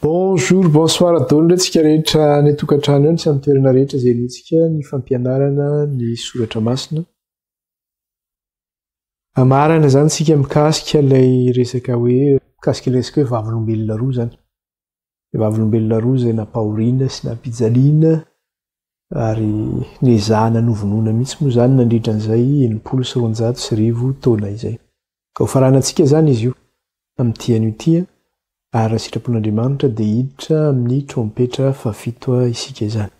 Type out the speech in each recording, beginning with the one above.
Bonjour, bonsoir adonira tsika rehetra any an-tokantrano eo ny samy toerana rehetra izay nitsika ny fampianarana ny soratra masina. Amarana izany tsika mikasika ilay resaka hoe mikasika ilay resaka hoe vavolombelona roa izany. Dia vavolombelona roa izay nampahoriana sy nampijaliana ary nezahana novonoina mihitsy moa izany nandritra an'izay enimpolo sy roanjato sy arivo taona izay. Ka hofaranantsika izany izy io amin'ity anio ity ary raha sitrapon'Andriamanitra dia hiditra amin'ny trompetra fahafito isika izany.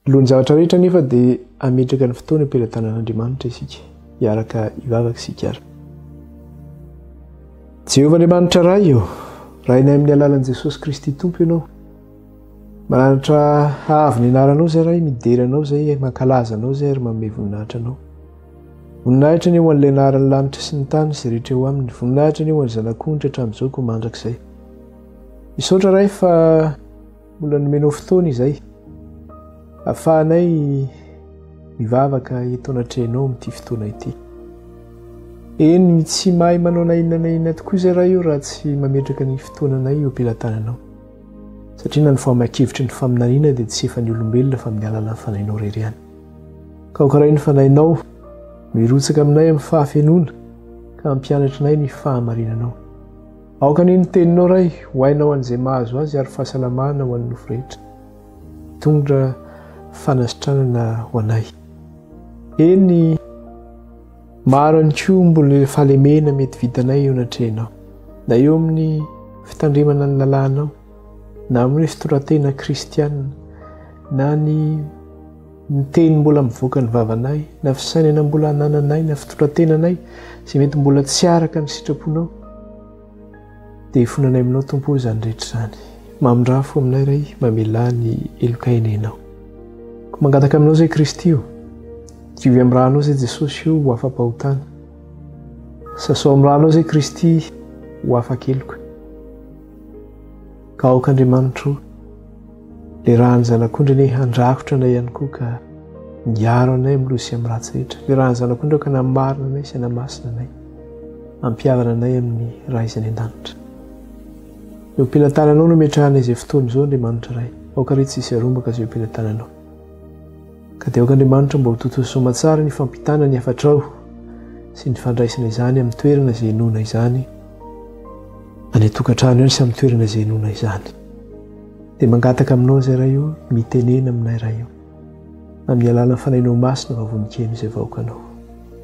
Alohan'ny zavatra rehetra anefa dia hametraka ny fotoana am-pelatanan'Andriamanitra isika, hiaraka hivavaka isika ary. Jehovah Andriamanitra Ray ô, Rainay amin'ny alalan'i Jesosy Kristy Tompo Ianao. Maranitra haavy ny anaranao izay Ray, midera Anao izay, mankalaza Anao izay ary manome voninahitra Anao. Voninahitra anie ho an'ilay anaran'ny lanitra sy ny tany sy rehetra eo aminy. Voninahitra anie ho an'ny zanak'ondry hatramin'izao koa mandrakizay. Misaotra Ray fa Mbola nomenao fotoana izay afahanay mivavaka eto anatrehanao amin'ity fotoana ity. Eny, tsy mahay manao na inona na inona tokoa izay raha io raha tsy mametraka ny fotoananay eo am-pelatananao. Satria na ny fahamakevitry ny faminaniana dia tsy efa ny olombelona fa amin'ny alalan'ny fanahinao rery ihany. Ka hokaray ny fanahinao no hirotsaka aminay amin'ny fahafenoana ka hampianatrinay ny fahamarinanao. Aoka anie ny teninao Ray ho aina ho an'izay mahazo azy ary fahasalamana ho an'ny nofo rehetra. Mitondra fanasitranana ho anay. Eny, maro ihany koa mbola fahalemena mety vitanay eo anatrehanao, na eo amin'ny fitandremana ny lalànao, na amin'ny fitondrantena kristiana, na ny Ny teny mbola mivoaka ny vavanay, na fisainana mbola anananay, na fitondran-tenanay izay mety mbola tsy araka ny sitraponao, dia ifonanay aminao Tompo o izany rehetra izany. Mamindrà fo aminay Ray, mamelà ny heloka enenao. Ko mangataka aminao izay Kristy o, diovy amin'ny rànao izay Jesosy o ho afa-pahotana. Sasao amin'ny rànao izay Kristy ho afa-keloka. Ka aoka Andriamanitro o. Le rany zanak'ondry anie handrakotra anay ihany koa ka miaro anay amin'ny loza sy amin'ny ratsy rehetra. Le rany zanak'ondry aoka namarina anay sy hanamasina anay, hampihavana anay amin'ny Ray izay any an-danitra. Eo am-pela tananao no ametrahanay izay fotoana izao Andriamanitra Ray. Aoka re tsy hisy arombaka izay eo am-pela tananao. Ka dia aoka Andriamanitra mba ho totoa soamatsara ny fampitana ny hafatrao sy ny fandraisana izany amin'ny toerana izay inoana izany, any an-tokantrano any sy amin'ny toerana izay inoana izany. Dia mangataka Aminao izay Ray o, mitenena aminay Ray o, amin'ny alalan'ny Fanahinao Masina vavononkeno izay vahoakanao.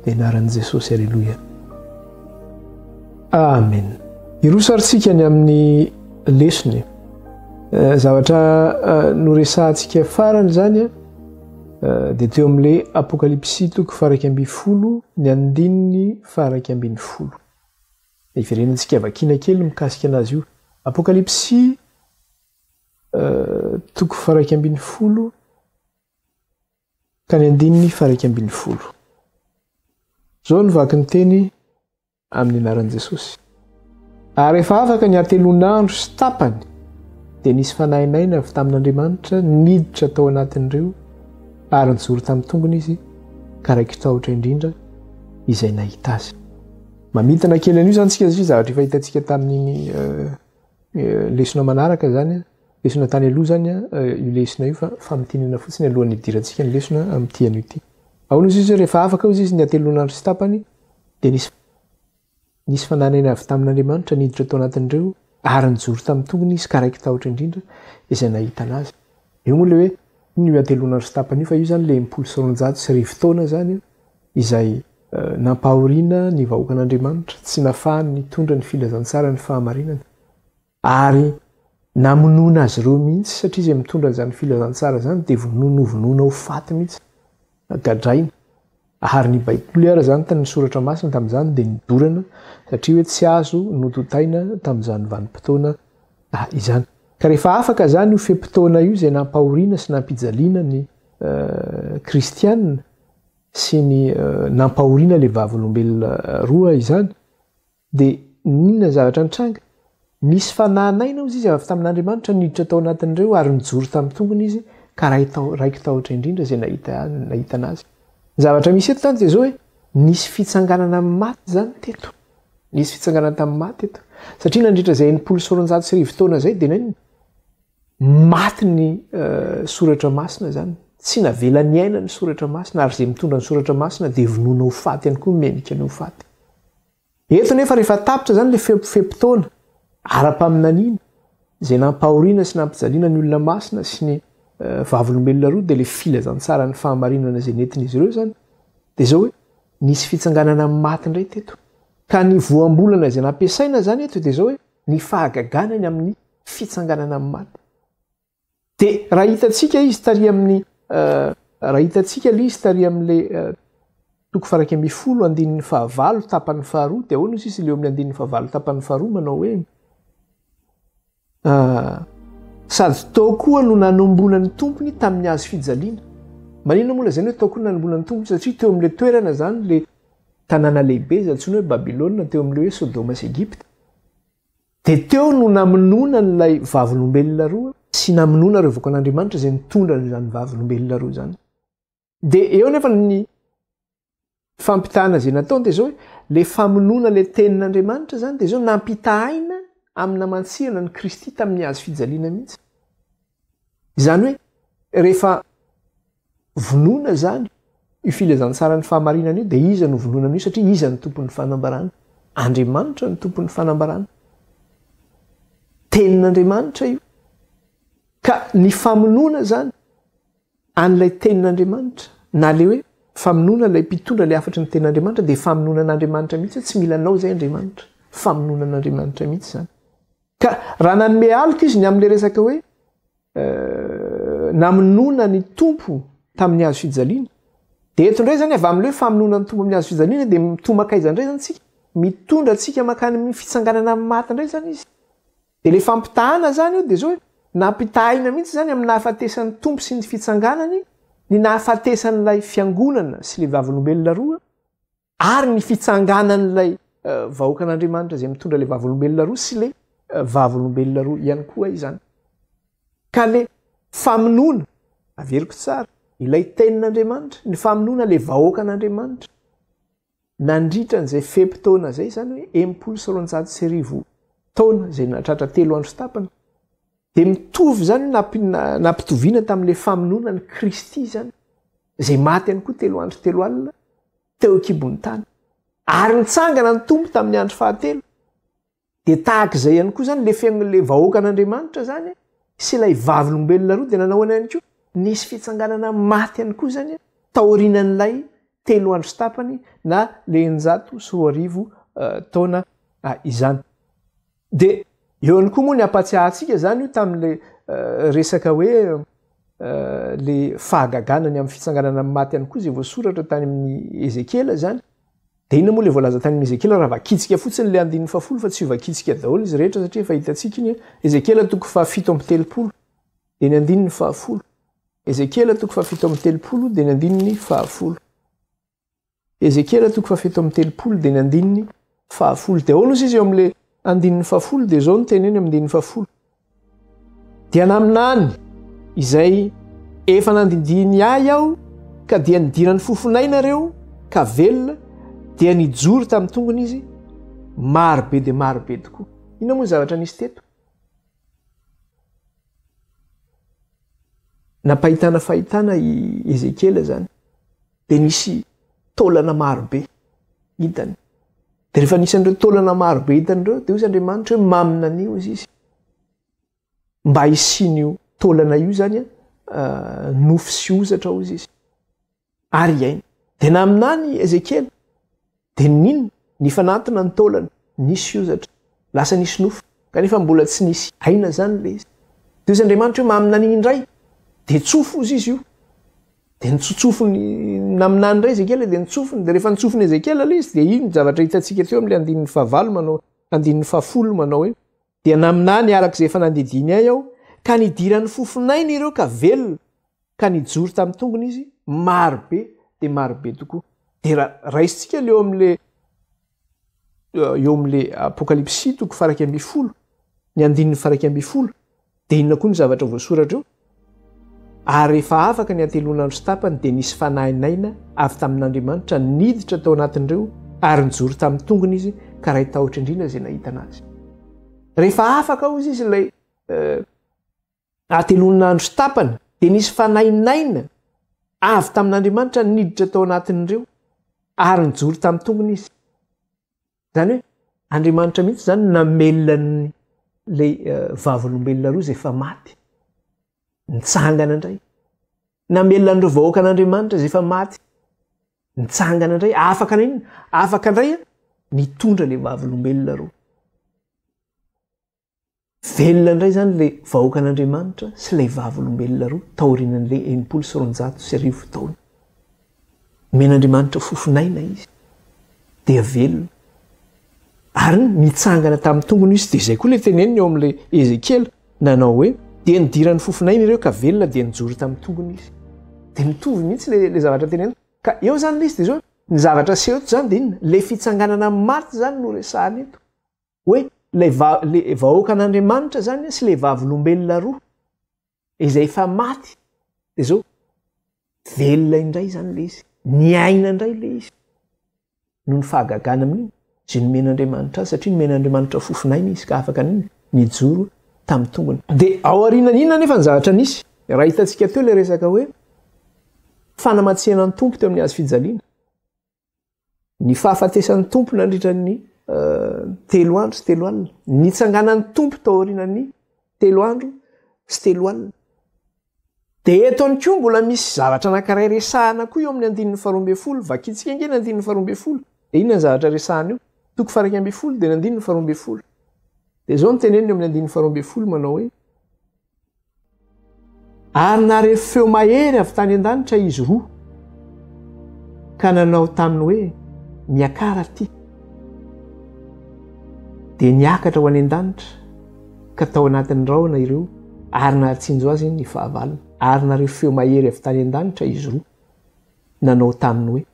Amin'ny anaran'i Jesosy, aleloia. Amen. Hiroso ary tsika ny amin'ny lesona. Eh, zavatra eh, noresahantsika farany izany a eh, dia teo amin'le apokalypsy toko faraika ambi folo ny andininy faraika ambin'ny folo. Hiverenantsika vakina kely mikasika anazy io. Apokalypsy toko faraika ambin'ny folo ka ny andininy faraika ambin'ny folo. Zao ny vaky ny teny Amin'ny anaran'i Jesosy. Ary rehefa afaka ny hatelon'andro sy tapany, dia nisy fanahinaina avy tamin'Andriamanitra niditra tao anatin'ireo, ary nijoro tamin'ny tongony izy, ka raiki-tahotra indrindra izay nahita azy. Mamintina kely an'io izany tsika, zavatra efa hitantsika tamin'iny lesona manaraka izany, lesona tany aloha izany, io lesona io fa famintinana fotsiny alohan'ny hidirantsika ny lesona amin'ity anio ity. Ahoana izy izy rehefa afaka izy izy ny hatelon'andro sy tapany, Dia nisy nisy fananena avy tamin'Andriamanitra niditra tao anatin'ireo ary nijoro tamin'ny tongony izy ka raiky tahotra indrindra izay nahita anazy. Io moa ilay hoe inona io antelon'andro sy tapany io fa io izany ilay impolo sy roanjato sy arivo taona izany izay nampahoriana ny vahoakan'Andriamanitra, tsy nafahany nitondra ny filazantsara ny fahamarinana. Ary namonoana azy ireo mihitsy satria izay mitondra an'izany filazantsara izany dia vonoina ho vonoina ho faty mihitsy, gadraina. Ary ny baiboly ary izany tany ny soratra masina tamin'izany dia nodorana satria hoe tsy azo notontaina tamin'izany vanim-potoana izany. Ka rehefa afaka izany io fe-potoana io izay nampahoriana sy nampijaliana ny kristiana sy ny nampahoriana ilay vavolombelona roa izany Dia inona ny zavatra nitranga? Nisy fanahy naina, hoy izy, avy tamin'Andriamanitra niditra tao anatin'ireo, ary nijoro tamin'ny tongony izy, ka raiki-tahotra indrindra izay nahita an'azy. Ny zavatra misy eto izany dia izao hoe, nisy fitsanganana amin'ny maty izany teto. Nisy fitsanganana tamin'ny maty teto. Satria nandritra izay enimpolo sy roanjato sy arivo taona izay, dia inona? Maty ny Soratra Masina izany. Tsy navela niaina ny Soratra Masina, ary izay mitondra ny Soratra Masina dia vonoina ho faty ihany koa, menika ny ho faty. Eto nefa rehefa tapitra izany ilay fepo fe-potoana ara-paminaniana izay nampahoriana sy nampijaliana ny olona masina sy ny vavolombelona roa dia ilay filazantsaran'ny fahamarinana izay nentin'izy ireo izany dia izao hoe nisy fitsanganana amin'ny maty indray teto ka ny voambolana izay nampiasaina izany eto dia izao hoe ny fahagagana ny amin'ny fitsanganana amin'ny maty Dia raha hitantsika izy tary amin'ny raha hitantsika ilay izy tary amin'ilay toko faraika ambin'ny folo andininy fahavalo tapany faharoa dia ahoana izy izy ilay amin'ny andininy fahavalo tapany faharoa manao hoe sady tao koa no nanombona ny tompony tamin'ny azy fijaliana manina moa lazany hoe tao koa nanombona ny tompony satria teo amin'ilay toerana zany le tanàna lehibe izay antsoina hoe babilôna teo amin'ilay hoe sodoma sy egypta Dia teo no namonoana an'ilay vavolombelona roa sy namonoana ireo vakoan'Andriamanitra izay nitondra an'izany vavolombelona roa izany. Dia eo nefa ny fampitahana izay nataony dia izao hoe ilay famonoana ilay tenin'Andriamanitra izany dia izao nampitahaina amin'ny namantsihana an'i Kristy tamin'ny hazo fijaliana mihitsy. Izany hoe rehefa vonoina izany io filazantsaran'ny fahamarinana io dia iza no vonoina amin'io satria iza ny tompon'ny fanambarana? Andriamanitra ny tompon'ny fanambarana. Tenin'Andriamanitra io. Ka ny famonoana izany an'ilay tenin'Andriamanitra na le hoe famonoana ilay mpitondra ilay hafatry ny tenin'Andriamanitra dia famonoana an'Andriamanitra mihitsy hoe tsy mila anao izay Andriamanitra. Famonoana an'Andriamanitra mihitsy izany. Ka raha nanome aloka izy ny amin'ilay resaka hoe namonoana ny Tompo tamin'ny hazo fijaliana, dia eto indray izany avy amin'ilay hoe famonoana ny Tompo amin'ny hazo fijaliana dia toa mankaiza indray izany isika? Mitondra antsika mankany amin'ny fitsanganana amin'ny maty indray izany izy. Dia ilay fampitahana izany io dia izao hoe nampitahina mihitsy izany amin'ny nahafatesan'ny Tompo sy ny fitsanganany ny nahafatesan'ilay fiangonana sy ilay vavolombelona roa Ary ny fitsanganan'ilay vahoakan'Andriamanitra izay mitondra ilay vavolombelona roa sy ilay vavolombelona roa ihany koa izany. Ka le famonoana, averiko tsara, ilay tenin'Andriamanitra, ny famonoana le vahoakan'Andriamanitra, nandritra an'izay fepitaona izay izany hoe enimpolo sy roanjato sy arivo taona izay nahatratra telo andro tapany, Dia mitovy izany nampitoviana tamin'ilay famonoana an'i Kristy izany, izay maty ihany koa telo andro telo alina teo an-kibon'ny tany. Ary nitsangana ny Tompo tamin'ny andro fahatelo. Dia tahaka izay ihany koa izany ilay fiainan'ilay vahoakan'Andriamanitra izany sy ilay vavolombelona roa dia nanao ahoana ihany koa? Nisy fitsanganana amin'ny maty ihany koa izany taorianan'ilay telo andro sy tapany na ilay eninjato sy roa arivo taona izany. Dia eo ihany koa moa ny hampatsiahantsika izany io tamin'ilay resaka hoe ilay fahagagana ny amin'ny fitsanganana amin'ny maty ihany koa izay voasoratra tany amin'ny Ezekiela izany. Dia inona moa ilay voalaza tany amin'ny Ezekiela raha vakintsika fotsiny ilay andininy fahafolo fa tsy vakintsika daholo izy rehetra satria efa hitantsika iny Ezekiela toko fahafito amby telopolo dia ny andininy fahafolo. Ezekiela toko fahafito amby telopolo dia ny andininy fahafolo. Ezekiela toko fahafito amby telopolo dia ny andininy fahafolo. Dia ahoana osa izy eo amin'ilay andininy fahafolo dia izao ny teny eny amin'ny andininy fahafolo. Dia naminany izay efa nandindihiny ahy aho ka dia nidiran'ny fofonay nareo ka velona dia nijoro tamin'ny tongony izy maro be dia maro be tokoa. Inona moa ny zavatra nisy teto? Nampahitana fahitana i Ezekiela izany. dia nisy taolana marobe hitany. Dia rehefa nisy an'ireo taolana marobe hitany ireo, dia hoy izy Andriamanitra hoe mamina an'io hoy izy. Mba hisian'io taolana io izany uh, nofo sy hozatra hoy izy. Ary hiaina. Dia naminany Ezekiela Dia nino, nifanantona ny taolana, nisy hozatra, lasa nisy nofy, kanefa mbola tsy nisy aina izany ilay izy. Dia hoy Andriamanitra hoe, Maminany indray! Dia tsofy hozy izy io. Dia nitsotsofiny naminany indray Ezekiela, dia nitsofiny. Dia rehefa nitsofiny Ezekiela ilay izy, dia iny zavatra hitantsika teo amin'ilay andininy fahavalo manao, andininy fahafolo manao hoe, Dia naminany araka izay efa nandidiany ahy aho, ka nidiran'ny fofon'ainy ireo ka velona, ka nijoro tamin'ny tongony izy, maro be dia maro be tokoa. Dia ra, raisintsika ilay eo amin'ilay eo amin'ilay Apokalypsy toko faraika ambin'ny folo, ny andininy faraika ambin'ny folo, dia inona koa ny zavatra voasoratra eo? Ary rehefa afaka ny hatelon'andro sy tapany, dia nisy fanahy naina avy tamin'Andriamanitra niditra tao anatin'ireo, ary nijoro tamin'ny tongony izy, ka ray tahotra indrindra izay nahitana azy. Rehefa afaka hozy izy ilay hatelon'andro sy tapany, dia nisy fanahy naina avy tamin'Andriamanitra niditra tao anatin'ireo, ary nijoro tamin'ny tongony izy. Izany hoe Andriamanitra mihitsy izany no namelona an'ilay Vavolombelona roa izay efa maty, nitsangana indray. Namelona an'ireo vahoakan'Andriamanitra izay efa maty, nitsangana indray. Afaka na inona, afaka indray nitondra ilay Vavolombelona roa. Velona indray izany ilay vahoakan'Andriamanitra sy ilay Vavolombelona roa taorian'ilay enimpolo sy roanjato sy arivo taona. Nomen'Andriamanitra fofon'aina izy, dia velona. Ary nitsangana tamin'ny tongony izy, dia izay koa ilay teneniny ao amin'ilay Ezekiela, nanao hoe, dia nidiran'ny fofon'aina ireo ka velona dia nijoro tamin'ny tongony izy. Dia mitovy mihitsy ilay, ilay zavatra tenenina. Ka eo izany ilay izy, dia izao, ny zavatra aseho eto izany dia inona? Ilay fitsanganana amin'ny maty izany no resahana eto. hoe ilay vahoakan'Andriamanitra zany sy ilay vavolombelona roa izay efa maty de zao velona indray zany le izy ny aina indray le izy noho ny fahagagana amin'iny zay nomen'Andriamanitra azy satria nomen'Andriamanitra fofonaina izy ka afaka niny nijoro tamin'ny tongony de ao arinan'ina nefa ny zavatra nisy raha hitantsika teo le resaka hoe fanamatsiana ny tompo teo amin'ny azy fijaliana ny fahafatesan'ny tompo nandritra ny eh, telo andro sy telo alina nitsanganan'ny tompo tao aorianan'ny telo andro sy telo alina de eto any koa mbola misy zavatra anankiray resahana koa eo amin'ny andininy faharoambe folo vakitsika nge ny andininy faharoambe folo de iny ny zavatra resahana io toko faraika ambe folo de ny andininy faharoambe folo de zao ny teneniny eo amin'ny andininy faharoambe folo manao hoe Ary nare feo mahery avy tany an-danitra izy roa, ka nanao taminy hoe, Miakara aty. Dia niakatra ho any an-danitra, ka tao anatin'ny rahona ireo, ary nahatsinjo azy ny fahavalony. Ary nare feo mahery avy tany an-danitra izy roa, nanao taminy hoe,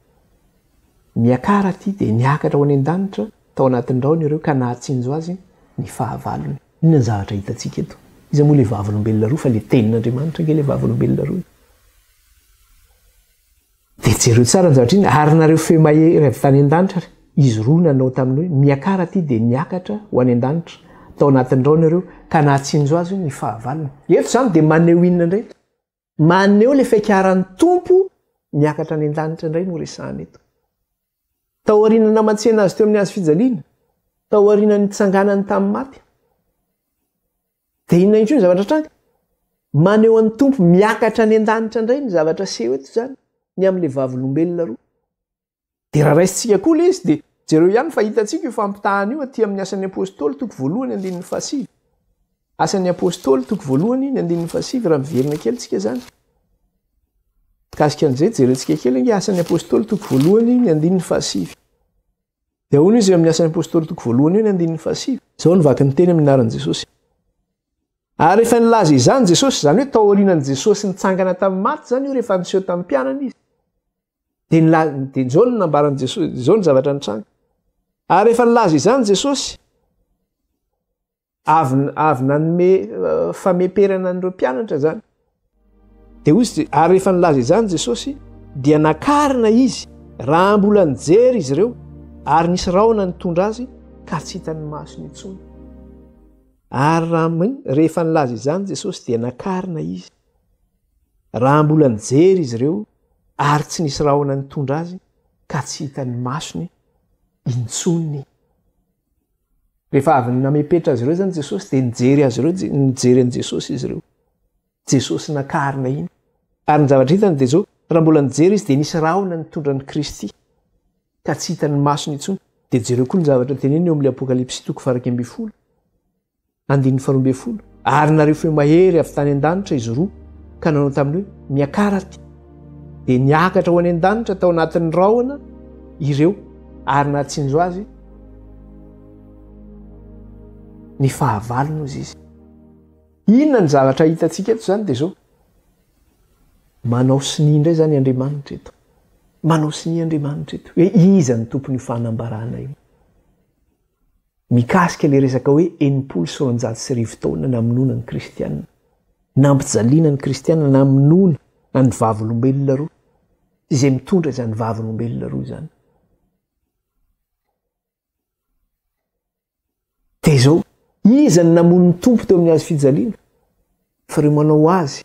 Miakara aty. Dia niakatra ho any an-danitra, tao anatin'ny rahona ireo, ka nahatsinjo azy ny fahavalony. Inona ny zavatra hitantsika eto? Iza moa ilay vavolombelona roa fa ilay Tenin'Andriamanitra ange ilay vavolombelona roa e. Dia jereo tsara ny zavatra iny ary nareo feo mahery avy tany an-danitra ary izy roa nanao taminy hoe, Miakara aty dia niakatra ho any an-danitra tao anatin'ny rahona ireo ka nahatsinjo azy ny fahavalony. Eto izany dia maneho inona indray? Maneho ilay fiakaran'ny Tompo miakatra any an-danitra indray no resahana eto. Tao aorian'ny namantsihana azy teo amin'ny hazo fijaliana, tao aorian'ny nitsanganany tamin'ny maty. Dia inona intsony zavatra tranga? Maneho an'ny Tompo miakatra any an-danitra indray ny zavatra seho eto izany, ny amin'ilay vavolombelona roa. Dia raha raisintsika koa ilay izy dia jereo ihany fa hitantsika io fampitahana io aty amin'ny Asan'ny Apôstôly toko voalohany andininy fahasivy. Asan'ny Apôstôly toko voalohany ny andininy fahasivy raha miverina kely tsika izany. Mikasika an'izay jerentsika kely ange Asan'ny Apôstôly toko voalohany ny andininy fahasivy. Dia ahoana izy amin'ny Asan'ny Apôstôly toko voalohany io ny andininy fahasivy? Izao ny vaky ny teny amin'ny anaran'i Jesosy. Ary rehefa nilaza izany Jesosy, izany hoe tao aorianan'i Jesosy nitsangana tamin'ny maty izany io rehefa niseho tamin'ny mpianany izy. de nla de zao no nambaran'i jesosy zao ny zavatra nitranga ary efa nilaza izany jesosy avy avy nanome eh, fameperana an'ireo mpianatra zany de hoy izy ary efa nilaza izany jesosy dia nakarina izy raha mbola nijery izy ireo ary nisy rahona nitondra azy ka tsy hitan'ny maso ny intsony ary raha rehefa nilaza izany jesosy dia nakarina izy Raha mbola nijery izy ireo ary tsy nisy rahona nitondra azy ka tsy hitan'ny masony intsony. Rehefa avy namepetra azy ireo zany Jesosy dia nijery azy ireo, nijery an'i Jesosy izy ireo. Jesosy nakarina iny. Ary ny zavatra hitany dia zao, raha mbola nijery izy dia nisy rahona nitondra an'i Kristy ka tsy hitan'ny masony intsony. Dia jereo koa ny zavatra teneniny eo amin'ny Apokalypsy toko farak'ambin'ny folo. Andininy faharoa ambin'ny folo, Ary nareo feo mahery avy tany an-danitra izy roa, ka nanao taminy hoe, Miakara aty. Dia niakatra ho any an-danitra tao anatin'ny rahona ireo, ary nahatsinjo azy ny fahavalony hozy izy. Inona ny zavatra hitantsika eto izany dia izao. Manao sonia indray izany Andriamanitra eto. Manao sonia Andriamanitra eto. Hoe iza ny tompon'io fanambarana io. Mikasika ilay resaka hoe enimpolo sy roanjato sy arivo taona namonoana ny Kristianina, nampijaliana ny Kristianina namonoana an'ny Vavolombelona roa, izay mitondra izany Vavolombelona roa izany. Dia izao, iza ny namono ny Tompo teo amin'ny hazo fijaliana? Fa ireo manao azy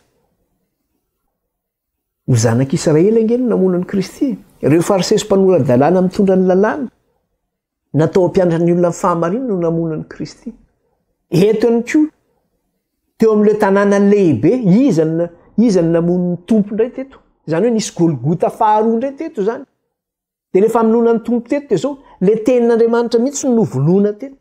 Ny zanak' Israely ange no namono an'i Kristy e! Ireo Fariseo sy mpanora-dalàna mitondra ny Lalàna, natao hampianatra ny olona ny fahamarinana no namono an'i Kristy. Eto ihany koa, teo amin'ilay tanàna lehibe, iza no iza no namono ny Tompo indray teto? Izany hoe nisy Golgota faharoa indray teto izany. Dia ilay famonoana ny Tompo teto dia izao, ilay tenin'Andriamanitra mihitsy no novonoina teto.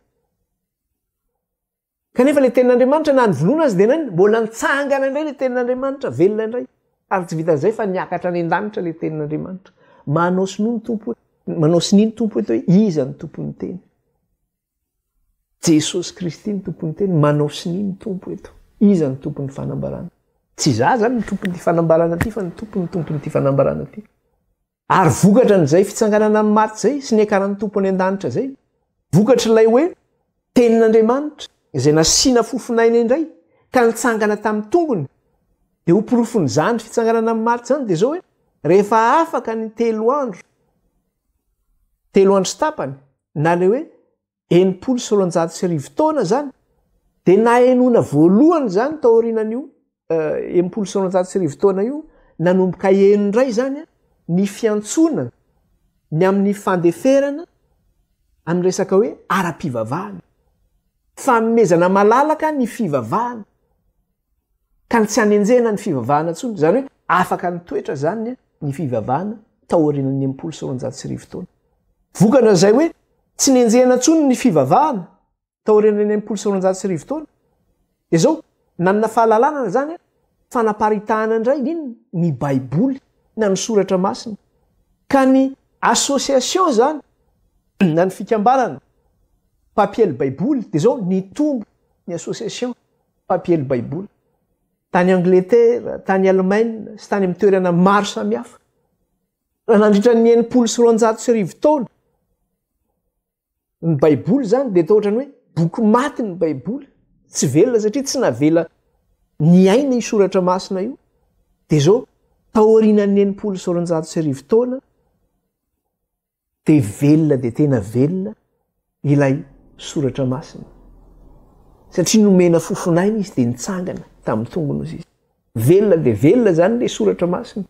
Kanefa ilay tenin'Andriamanitra na nivoloana azy dia nainona? Mbola nitsangana indray ilay tenin'Andriamanitra, velona indray. Ary tsy vitan'izay fa niakatra any an-danitra ilay tenin'Andriamanitra. Manao sonia ny Tompo, manao sonia ny Tompo eto hoe iza ny tompon'ny teny. Jesosy Kristy ny tompon'ny teny, manao sonia ny Tompo eto. Iza ny tompon'ny fanambarana? Tsy izaho izany ny tompon'ity fanambarana ity fa ny Tompo ny tompon'ity fanambarana ity. Ary vokatra an'izay fitsanganana amin'ny maty izay sy niakaran'ny Tompo any an-danitra izay, vokatr'ilay hoe Tenin'Andriamanitra izay nasiana fofon'aina indray ka nitsangana tamin'ny tongony, dia ho porofon'izany fitsanganana amin'ny maty izany dia izao hoe, rehefa afaka ny telo andro, telo andro sy tapany, na ilay hoe enimpolo sy roanjato sy arivo taona izany, dia nahenoana voalohany izany tao aorianan'io eh, enimpolo sy roanjato sy arivo taona io, nanomboka heno indray izany eh, ny fiantsoana ny amin'ny fandeferana amin'ny resaka hoe ara-pivavahana. Fanomezana malalaka ny fivavahana. Tany tsy hanenjehana ny fivavahana intsony, izany hoe afaka nitoetra izany ny fivavahana taorian'ny enimpolo sy roanjato sy arivo taona. Vokana izay hoe tsy nenjehana intsony ny fivavahana taorian'ny enimpolo sy roanjato sy arivo taona, dia izao, nanana fahalalana izany aho, fanaparitahana indray ny inona? ny Baiboly na ny Soratra Masina. Ka ny association izany na ny fikambanana mpampiely Baiboly dia izao, nitombo ny association Mpampiely Baiboly tany Angletera, tany Alemaina sy tany amin'ny toerana maro samihafa. Raha nandritra ny enimpolo sy roanjato sy arivo taona, ny Baiboly izany dia toa ohatran'ny hoe boky maty ny Baiboly, tsy velona satria tsy navela niaina io soratra masina io. Dia izao, taorianan'ny enimpolo sy roanjato sy arivo taona, dia velona dia tena velona ilay soratra masina satria nomena fofon'aina izy dia nitsangana tamin'ny tongony izy izy velona dia velona zany le soratra masina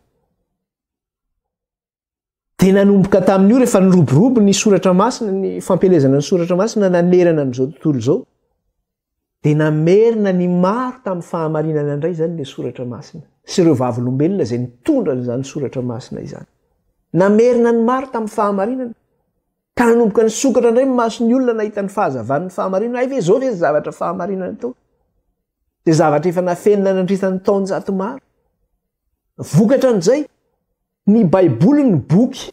dia nanomboka tamin'io rehefa niroborobo ny soratra masina ny fampelezana ny soratra masina nanerana an'izao tontolo izao Dia namerina ny maro tamin'ny fahamarinana indray izany ilay soratra masina sy ireo vavolombelona izay nitondra an'izany soratra masina izany. Namerina ny maro tamin'ny fahamarinana ka nanomboka nisokatra indray ny mason'ny olona nahita ny fahazavan'ny fahamarinana. Hay ve izao ve ny zavatra fahamarinana atao? Dia zavatra efa nafenina nandritra ny taonjato maro. Vokatra an'izay, ny Baiboly ny boky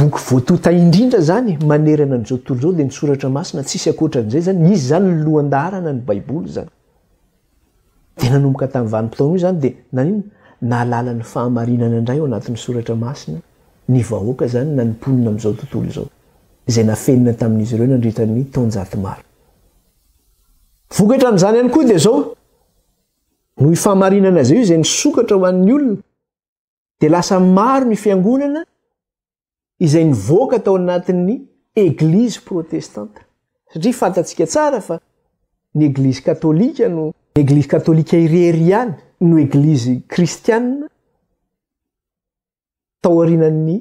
Boky voatonta indrindra izany manerana an'izao tontolo izao dia ny Soratra Masina, tsisy ankoatran'izay izany. Izy izany no lohan-daharana ny Baiboly izany. Dia nanomboka tamin'io vanim-potoana io izany dia naninona? Nahalala ny fahamarinana indray ao anatin'ny Soratra Masina ny vahoaka izany na ny mponina amin'izao tontolo izao, izay nafenina tamin'izy ireo nandritra ny taonjato maro. Vokatran'izany ihany koa dia izao, noho io fahamarinana izay io izay nisokatra ho an'ny olona, dia lasa maro ny fiangonana izay nivoaka tao anatin'ny eglizy protestanta satria fantatsika tsara fa ny eglizy katolika no eglizy katolika irery ihany no eglizy kristianina tao arinan'ny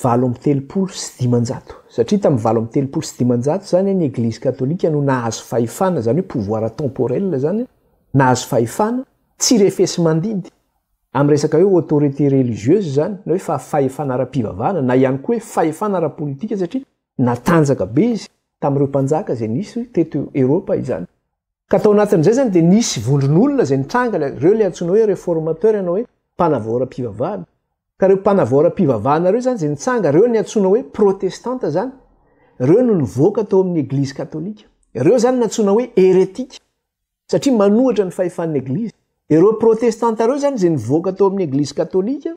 valo amby telopolo sy dimanjato satria tamin'ny valo amby telopolo sy dimanjato zany ny eglizy katolika no nahazo fahefana zany hoe pouvoir temporel zany nahazo fahefana tsy refesy mandidy amin'ny resaka hoe autorité religieuse zany na hoe fa fahefana ara-pivavahana na ihany koa hoe fahefana ara-politika satria natanjaka be izy tamin'ireo mpanjaka izay nisy teto Eropa izany Ka tao anatin'izay izany dia nisy vondron'olona izay nitranga, ireo ilay antsoina hoe reformateurs na hoe mpanavoaram-pivavahana. Ka ireo mpanavoaram-pivavahana ireo izany izay nitsanga, ireo ny antsoina hoe protestanta izany, ireo no nivoaka tao amin'ny Eglizy Katolika. Ireo izany no antsoina hoe heretika, satria manohitra ny fahefan'ny Eglizy. Ireo protestanta ireo izany izay nivoaka tao amin'ny Eglizy Katolika,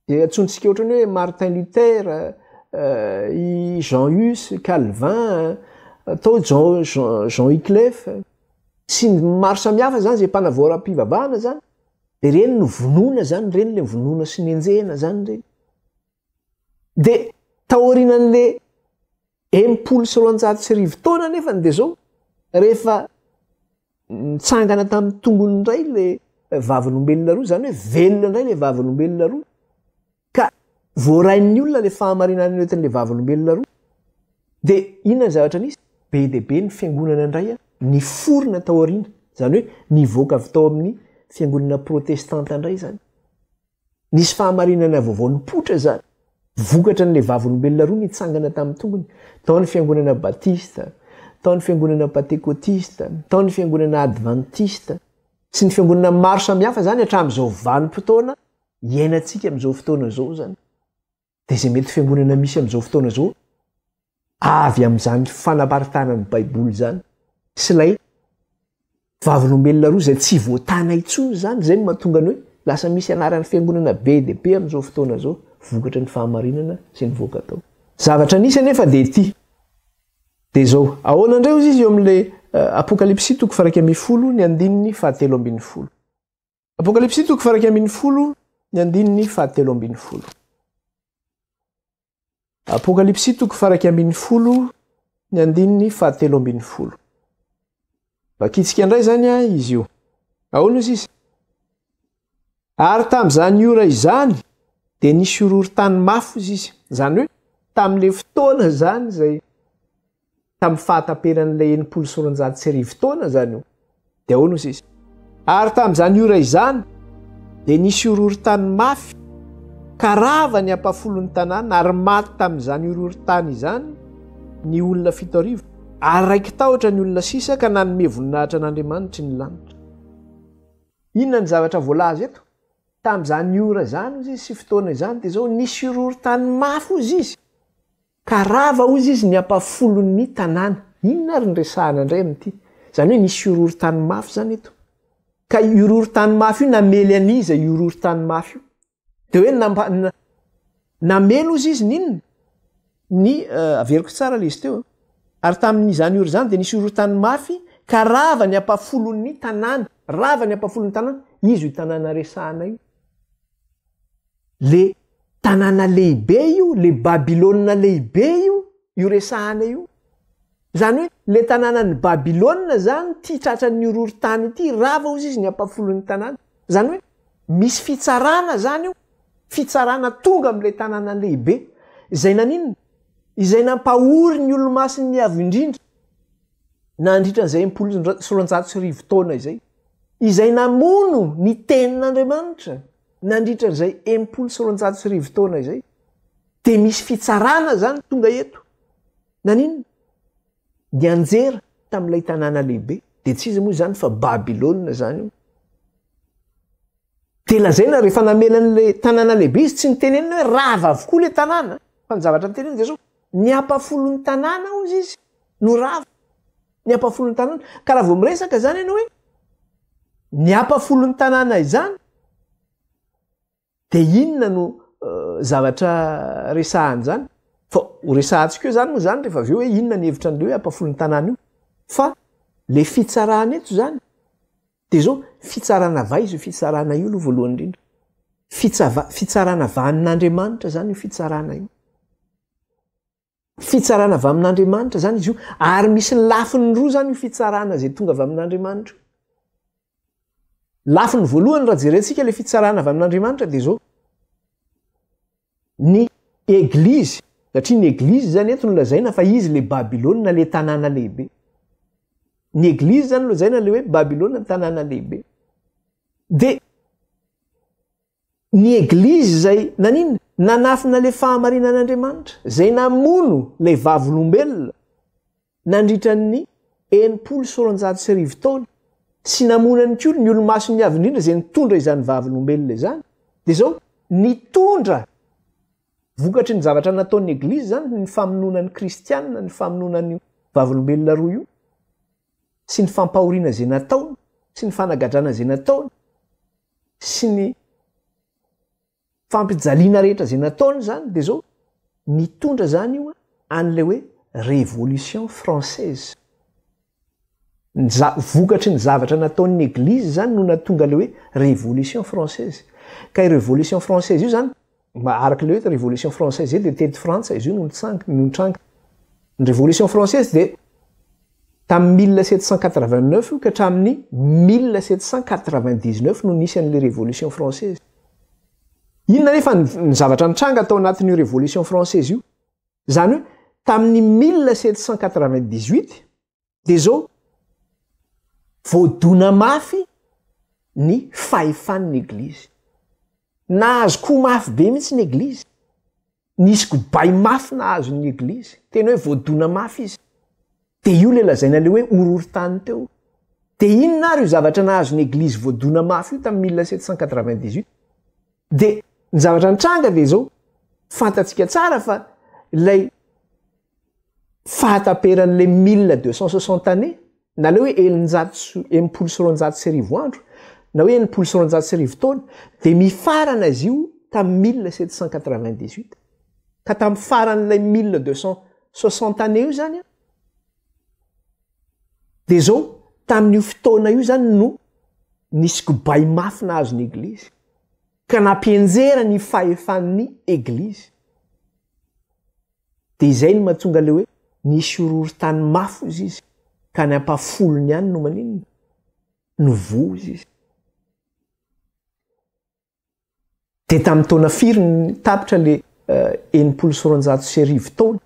Dia antsointsika ohatrany hoe Martin Luther, i Jean Hus, Calvin, atao Jean, Jean, Jean Wyclef, sy ny maro samihafa zany zay mpanavoaram-pivavahana zany, dia ireny no vonoina zany, ireny le vonoina sy nenjehina zany ireny. Dia taorianan'le Enimpolo sy roanjato sy arivo taona anefa ny Dezô, rehefa nitsangana tamin'ny tongony indray ilay vavolombelona roa, izany hoe velona indray ilay vavolombelona roa, ka voarain'ny olona ilay fahamarinana nentin'ilay vavolombelona roa, dia inona ny zavatra nisy? Be dia be ny fiangonana indray niforona tao aoriana, izany hoe nivoaka avy tao amin'ny fiangonana protestanta indray izany. Nisy fahamarinana vaovao nipoitra izany. Vokatra an'ilay Vavolombelona roa nitsangana tamin'ny tongony, tao ny Fiangonana Batista, tao ny Fiangonana Pantekotista, tao ny Fiangonana Advantista, sy ny Fiangonana maro samihafa izany hatramin'izao vanim-potoana iainantsika amin'izao fotoana izao izany. dia izay mety fiangonana misy amin'izao fotoana izao avy amin'izany fanabaritana ny baiboly izany sy ilay vavolombelona roa izay tsy voatana intsony izany izay no mahatonga ny hoe lasa misy anaran'ny fiangonana be dia be amin'izao fotoana izao vokatra ny fahamarinana sy ny voaka atao zavatra nisy anefa dia ity dia izao ahoana indray ozy izy eo amin'ilay eh, apokalypsy toko faraika ambin'ny folo ny andininy fahatelo ambin'ny folo Apokalypsy toko faraika ambin'ny folo ny andininy fahatelo ambin'ny folo. Apokalypsy toko faraika ambin'ny folo ny andininy fahatelo ambin'ny folo. Vakitsika indray izany a izy io. Ahoana io sisa? Ary tamin'izany ora izany dia nisy horohorontany mafy sisa. Izany hoe tamin'ilay fotoana izany izay tamin'ny fahataperan'ilay enimpolo sy roanjato sy arivo taona izany io, dia ahoana hoy sisa? Ary tamin'izany ora izany dia nisy horohorontany mafy, ka rava ny ampahafolon'ny tanàna, ary maty tamin'izany horohorontany izany ny olona fito arivo, ary raiki-tahotra ny olona sisa ka nanome voninahitra an'Andriamanitry ny lanitra. Inona ny zavatra voalaza eto? Tamin'izany ora izany, hoy izy, sy fotoana izany, dia izao, nisy horohorontany mafy, hoy izy. Ka rava hoy izy ny ampafolon'ny tanàna. Inona ary no resahana indray amin'ity? Izany hoe nisy horohorontany mafy izany eto. Ka io horohorontany mafy io namely an'iza io horohorontany mafy io? Dia hoe nampa, namely hozy izy ny inona? Ny, averiko tsara ilay izy teo a. Ary tamin'izany ora izany dia nisy horohorontany mafy ka rava ny ampafolon'ny tanàna. Rava ny ampafolon'ny tanàna. Iza io tanàna resahana io? Le tanàna lehibe io, le Babylona lehibe io, io resahana io. Zany hoe le tanànan'i Babylona zany ty tratran'ny horohorontany ity, rava hozy izy ny ampafolon'ny tanàna. Zany hoe misy fitsarana zany io, fitsarana tonga am'le tanàna lehibe. Izay naninona? Izay nampahory ny olomasin'ny Avo Indrindra nandritra an'izay impolo sy roanjato sy arivo taona izay. Izay namono ny Tenin'Andriamanitra. nandritra an'izay enimpolo sy roanjato sy arivo taona izay dia misy fitsarana zany tonga eto naninona nianjera tamin'ilay tanàna lehibe dia tsy izy moa izany fa babilôna zany io dia lazaina rehefa namelan'ilay tanàna lehibe izy tsy nitenenina hoe rava avokoa ilay tanàna fa ny zavatra nitenenina dia zao ny ampafolon'ny tanàna ozy izy no rava Ny ampafolon'ny tanàna. Ka raha vao miresaka izany ianao hoe ny ampafolon'ny tanàna izany, dia inona no zavatra resahany izany? Fa ho resahantsika eo izany moa izany rehefa avy eo hoe inona ny hevitra an'ilay hoe ampafolon'ny tanàna io. Fa le fitsarana eto izany dia izao, fitsarana avy aiza io fitsarana io aloha voalohany indrindra? Fitsava- fitsarana avy any n'Andriamanitra izany io fitsarana io. Fitsarana avy amin'Andriamanitra izany izy io, ary misy ny lafiny roa izany io fitsarana izay tonga avy amin'Andriamanitra io. Lafiny voalohany raha jerentsika ilay fitsarana avy amin'Andriamanitra dia izao. Ny eglizy, satria ny eglizy izany eto no lazaina fa izy ilay Babylona ilay tanàna lehibe. Ny eglizy izany no lazaina ilay hoe Babylona ny tanàna lehibe. Dia Ny eglizy izay nanina? Nanafina ilay fahamarinan-Andriamanitra, izay namono ilay vavolombelona nandritra ny enimpolo sy roanjato sy arivo taona, sy namono ihany koa ny olo-masony avo indrindra izay nitondra izany vavolombelona izany. Dia izao, nitondra vokatry ny zavatra nataon'ny eglizy izany ny famonoana ny kristiana, ny famonoana an'io vavolombelona roa io, sy ny fampahoriana izay nataony, sy ny fanagadrana izay nataony. sy ny fampijaliana rehetra izay nataony izany dia zao nitondra izany io an'ilay hoe révolution française ny za vokatry ny zavatra nataon'ny eglizy izany no natonga ilay hoe révolution française ka i révolution française io izany Araka ilay hoe révolution française zay dia teto Frantsa izy io no nitsang- no nitranga. Ny révolution française dia tamin'ny 1789 io ka hatramin'ny 1799 no nisy an'ilay révolution française. Inona anefa ny ny zavatra nitranga tao anatin'io révolution française io? Izany hoe tamin'ny 1798 Dia izao, voadona mafy ny fahefan'ny Eglizy. Nahazo ko mafy be mihitsy ny Eglizy. Nisy kobay mafy nahazo ny Eglizy. Tena hoe voadona mafy izy. Dia io ilay lazaina ilay hoe horohorontany teo. Dia inona ary io zavatra nahazo ny Eglizy voadona mafy io tamin'ny 1798? Dia ny zavatra nitranga dia izao, fantatsika tsara fa ilay fahataperan'ilay mille deux cent soixante années na le hoe eninjato sy enimpolo sy roanjato sy arivo andro na hoe enimpolo sy roanjato sy arivo taona dia mifarana izy io tamin'ny mille sept cent quatre vingt dix huit ka tamin'ny faran'ilay mille deux cent soixante années io zany a dia zao tamin'io fotoana io zany no nisy kobay mafy nahazo ny eglizy ka nampianjera ny fahefan'ny eglizy Dia izay no mahatonga ilay hoe nisy horohorontany mafy hozy izy, ka any ampahafolony any no maninona? No voa hozy izy. Dia tamin'ny taona firy ny tapitra ilay eh, enimpolo sy roanjato sy arivo taona?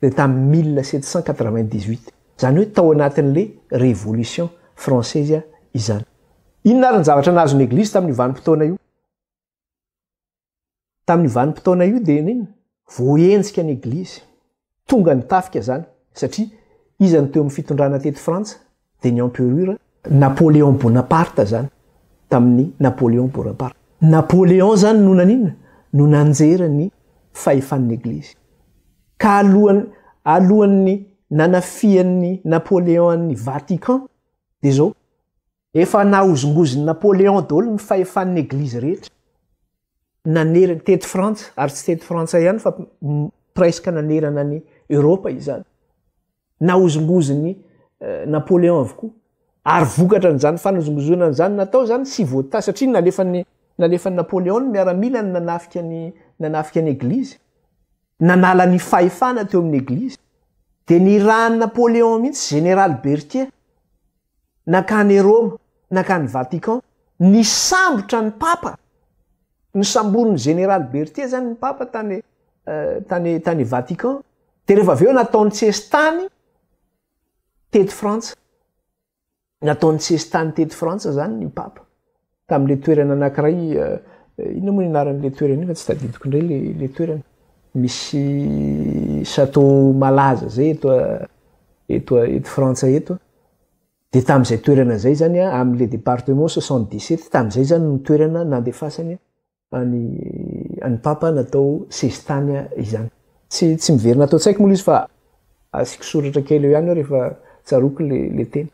Dia tamin'ny mille sept cent quatre-vingt-dix-huit. Izany hoe tao anatin'ilay révolution française izany. Inona ary ny zavatra nahazo ny Eglizy tamin'io vanim-potoana io? Tamin'io vanim-potoana io dia nini? Voahenjika ny Eglizy. Tonga ny tafika izany, satria iza no teo amin'ny fitondrana teto Frantsa? Dia ny Emperura. Napoléon Bonaparte izany, tamin'ny Napoléon Bonaparte. Napoléon izany no naninona? No nanjera ny fahefan'ny Eglizy. Ka alohan'ny, alohan'ny nanafihan'ny Napoléon an'ny Vatican, dia izao, Efa nahozongozin'i Napoléon daholo ny fahefan'ny Eglizy rehetra. Nanerana, teto Frantsa, ary tsy teto Frantsa ihany fa presque nanerana an'i Europe izany. Nahozongozin'i eh, Napoléon avokoa. Ary vokatra an'izany fanozongozonana izany natao izany tsy voatà satria nalefan'ny nalefan'i Napoléon ny miaramila ny nanafika ny nanafika ny Eglizy. Nanala ny fahefana teo amin'ny Eglizy. Dia nirahan'i Napoléon mihitsy Général Berthier nankany Roma, nankany Vatican, nisambotra ny Papa, nosamborin'ny Général Berthier zany ny Papa tany tany tany Vatican, de rehefa avy eo nataony sesitany teto Frantsa, nataony sesitany teto Frantsa zany ny Papa. Tamin'ilay toerana anankiray, inona moa ny anaran'ilay toerana iny fa tsy tadidiko indray ilay ilay toerana. Misy château malaza zay eto eto eto Frantsa eto. Dia tamin'izay toerana izay zany amin'ilay département soixante dix sept tamin'izay zany no toerana nandefasany. Any any papa natao sesitany izany. Tsy tsy miverina ato an-tsaiko moa izy fa asiako soratra kely eo ihany rehefa tsaroako le le teny.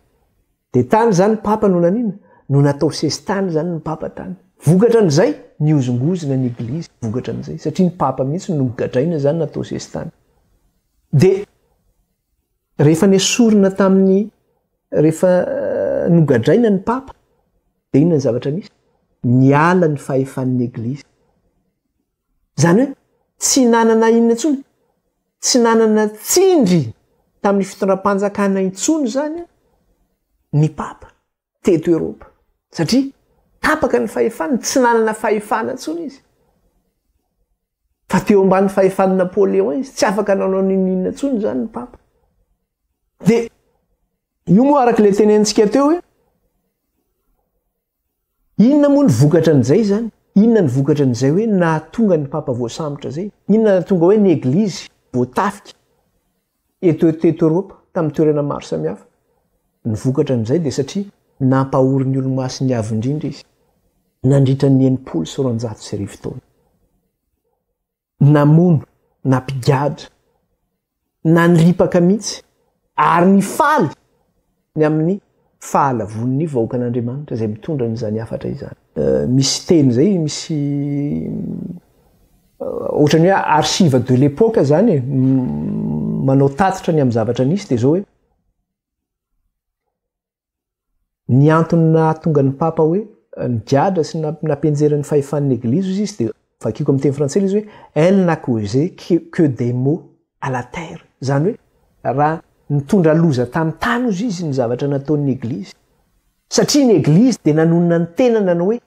De tany izany papa no naniana? No natao sesitany izany ny papa tany. Vokatra an'izay nihozongozona ny eglizy vokatra an'izay satria ny papa mihitsy no nogadraina izany natao sesitany. De rehefa nesorina tamin'ny rehefa nogadraina ny papa. Dia inona ny zavatra misy? Niala ny fahefan'ny Eglizy. Izany hoe tsy nanana inona intsony, tsy nanana tsindry tamin'ny fitondram-panjakana intsony izany ny Papa teto Eropa. Satria tapaka ny fahefany, tsy nanana fahefana intsony izy. Fa teo ambany fahefan'i Napoléon izy, tsy afaka nanao n'inona inona intsony izany ny Papa. Dia Io moa araka ilay tenenintsika teo hoe inona moa ny vokatra an'izay izany? Inona ny vokatra an'izay hoe nahatonga ny papa voasambotra izay? Inona nahatonga hoe ny eglizy voatafika eto teto Eoropa tamin'ny toerana maro samihafa? Ny vokatra an'izay dia satria nampahory ny Olomasiny avo indrindra izy nandritra ny enimpolo sy roanjato sy arivo taona. namono na mpigadra na niripaka mihitsy ary nifaly ny amin'ny fahalavoan'ny vahoakan'Andriamanitra izay mitondra an'izany hafatra izany. Misy teny izay misy ohatran'ny hoe archive de l'époque izany e, manao tatitra ny amin'ny zavatra nisy dia izao hoe Ny antony nahatonga ny Papa hoe nigadra sy nampianjera ny fahefan'ny Eglizy hoy izy dia vakiko amin'ny teny frantsay ilay izy hoe elle n'a causé que des maux à la terre, izany hoe raha nitondra loza tamin'ny tany hozy izy ny zavatra nataon'ny Eglizy. Satria ny Eglizy dia nanonona ny tenany nanao hoe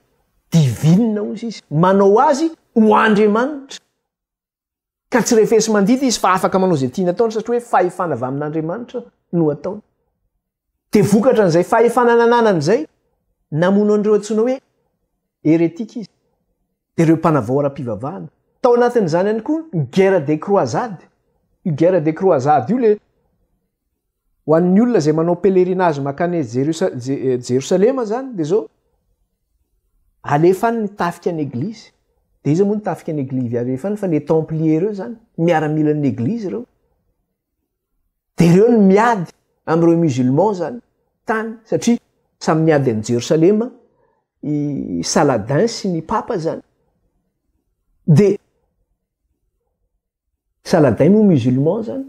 divine hozy izy, manao azy ho Andriamanitra. Ka tsy refesi mandidy izy fa afaka manao izay tiany ataony satria hoe fahefana avy amin'Andriamanitra no ataony. Dia vokatra an'izay fahefana nananany izay, namono an'ireo antsoina hoe heretika izy. Dia ireo mpanavao ara-pivavahana. Tao anatin'izany ihany koa ny guerre des croisades. Io guerre des croisades io le Ho an'ny olona izay manao pèlerinage mankany Jerosalema zany de zao, alefa any ny tafika an'ny eglizy, de iza moa ny tafika an'ny eglizy alefa any fa les templiers reo zany, miaramilan'ny eglizy reo, de reo no miady am'ireo musulmans zany tany satria samy miady an'i Jerosalema i Saladin sy ny Papa zany, de. Saladin moa musulman zany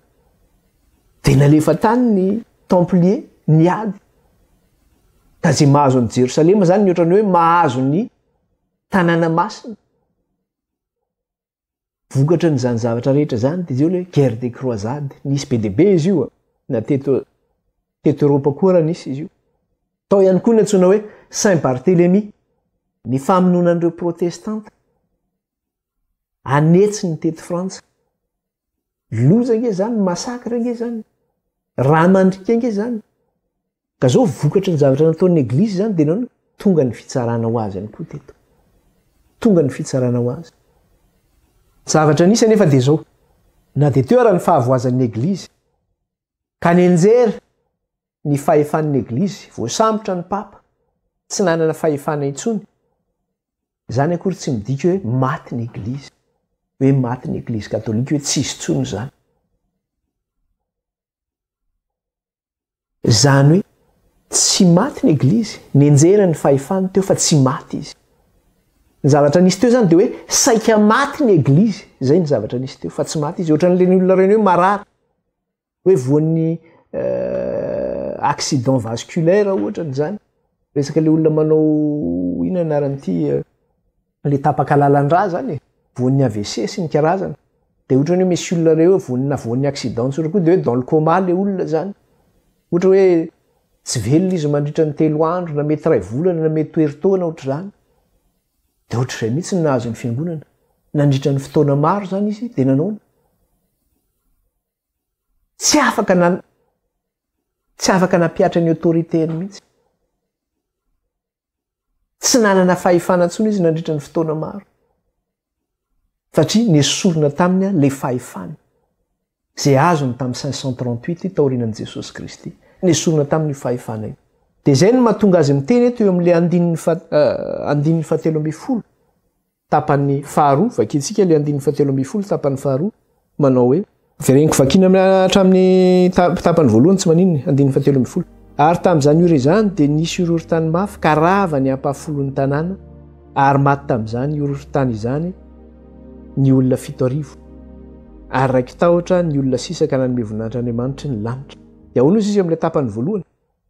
de nalefa tany ny templier niady ka ze mahazo an'i Jerosalema zany ny ohatran'ny hoe mahazo ny tanàna masina vokatra n'izany zavatra rehetra zany de zeo le guerre des croisades nisy be de be izy io na teto teto Europa koa raha nisy izy io tao ihany koa ny antsoina hoe Saint Barthelemy ny famonoana an'ireo protestanta anetsy ny teto frantsa loza nge zany masakra nge zany raha mandrika nge zany ka zao vokatry ny zavatra nataon'ny eglisy zany de naona tonga ny fitsarana ho azy any koa teto tonga ny fitsarana ho azy zavatra nisy anefa de zao na de teo ara ny fahavoazan'ny eglisy ka nenjery ny fahefan'ny eglizy, voasambotra ny papa, tsy nanana fahefana intsony, izany akory tsy midika hoe maty ny eglizy, hoe maty ny eglizy katolika, hoe tsisy intsony izany. Izany hoe tsy maty ny eglizy, nenjera ny fahefany teo fa tsy maty izy. Ny zavatra nisy teo izany dia hoe saika maty ny eglizy, izay ny zavatra nisy teo fa tsy maty izy, ohatran'ireny olona ireny hoe marary. hoe voan'ny euh, accident vasculaire ohatra ny zany resaka le olona manao ina anaran'ity euh, le tapaka lalandra zany e. voan'ny avc sy ny karazana de ohatra ny hoe misy olona reo hoe voanina voan'ny accident tsotra koa de hoe dans le coma le olona zany ohatra hoe tsy velona izy mandritra ny telo andro na mety ray volana na mety toeritaona ohatra zany de ohatra izay mihitsy ny nahazo ny fiangonana nandritra ny fotoana maro zany izy de nanaona Tsy afaka na tsy afaka nampihatra ny autorité-ny mihitsy. Tsy nanana fahefana intsony izy nandritra ny fotoana maro. Satria nesorina taminy ilay fahefany izay azony tamin'ny 538 taorianan'i Jesosy Kristy. Nesorina taminy io fahefana io. Dia izay no mahatonga azy miteny eto eo amin'ilay andininy fahatelo ambin'ny folo. Tapany faharoa, Vakintsika ilay andininy fahatelo ambin'ny folo tapany faharoa, manao hoe. Dia reniko vakina hatramin'ny tapany voalohany tsy maninona, andininy fahatelo ambin'ny folo. Ary tamin'izany ora izany dia nisy horohorontany mafy ka rava ny ampahafolon'ny tanàna, ary maty tamin'izany horohorontany izany ny olona fito arivo, ary raiki-tahotra ny olona sisa ka nanome voninahitr'Andriamanitry ny lanitra. Dia ahoana hoy Zizy amin'ilay tapany voalohany?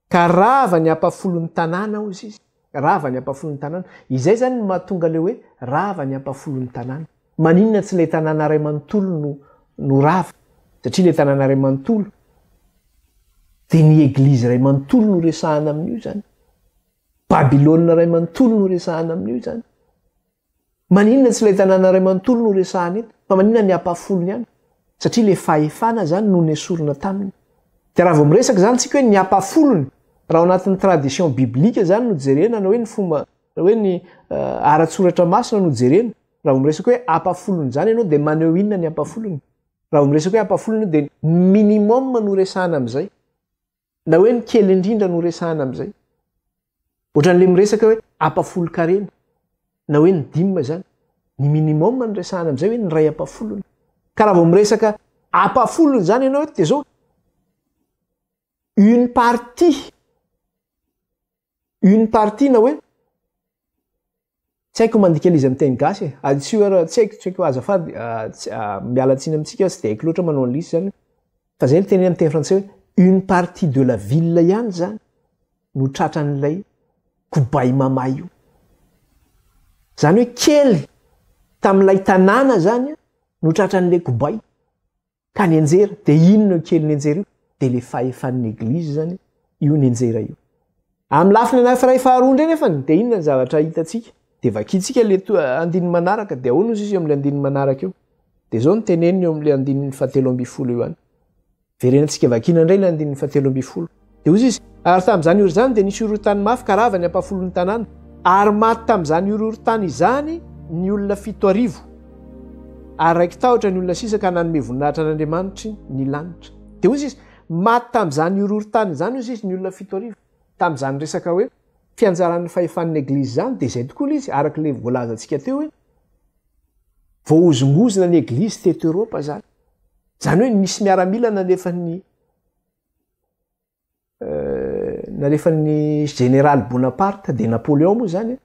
Ka rava ny ampahafolon'ny tanàna, hoy Zizy. Rava ny ampafolon'ny tanàna. Izay izany no mahatonga ilay hoe rava ny ampafolon'ny tanàna. Maninona tsy ilay tanàna iray manontolo no no rava? Satria ilay tanàna iray manontolo dia ny eglizy iray manontolo no resahana amin'io izany. Babylona iray manontolo no resahana amin'io izany. Maninona tsy ilay tanàna iray manontolo no resahana eto, fa maninona ny ampahafolony ihany? Satria ilay fahefana izany no nesorina taminy. Dia raha vao miresaka izany isika hoe ny ampahafolony, raha ao anatin'ny tradition biblika izany no jerena na hoe ny fomba na hoe ny ara-tsoratra masina no jerena, raha vao miresaka hoe ampahafolony izany ianao dia maneho inona ny ampahafolony? Raha vao miresaka hoe ampahafolony ianao dia ny minimum no resahana amin'izay. Na hoe ny kely indrindra no resahana amin'izay. Ohatran'ilay miresaka hoe ampafolon-karena, na hoe ny dîme izany. Ny minimum no resahana amin'izay hoe ny iray ampafolony. Ka raha vao miresaka ampafolony izany ianao eto dia izao, une partie une partie na hoe tsy haiko mandika an'izy amin'ny teny gasy e aditsiho ara tsy haiko tsy haiko azafady miala tsiny amintsika tsy dia haiko loatra manao an'lisy zany fa zay ny teny amin'ny teny frantsay hoe une partie de la ville ihany zany no tratran'ilay kobay mama io zany hoe kely tamin'ilay tanàna zany no tratran'ilay kobay Ka ny anjera de inona io kelin'ny anjera io? De le fahefan'ny eglizy zany io ny anjera io. Amin'ny lafiny anakiray faharoa indray nefany de inona ny zavatra hitantsika? De vakintsika le andininy manaraka de ahoana ozy izy eo amin'le andininy manaraka eo? De zao ny teneniny eo amin'le andininy fahatelo ambin'ny folo eo ihany. Verenantsika vakina indray le andininy fahatelo ambin'ny folo. Dia hoy izy, Ary tamin'izany ora izany dia nisy horohorontany mafy ka rava ny ampahafolon'ny tanàna. Ary maty tamin'izany horohorontany izany ny olona fito arivo. Ary raiki-tahotra ny olona sisa ka nanome voninahitra an'Andriamanitry ny lanitra. Dia hoy izy, Maty tamin'izany horohorontany izany, hoy izy, ny olona fito arivo. Tamin'izany resaka hoe fianjaran'ny fahefan'ny Eglizy izany, dia izay tokoa ilay izy, araka ilay voalazantsika teo hoe voahozongozona ny Eglizy teto Eropa izany. Izany hoe nisy miaramila nalefan'ny Nalefan'ny Général Bonaparte de Napoléon moa zany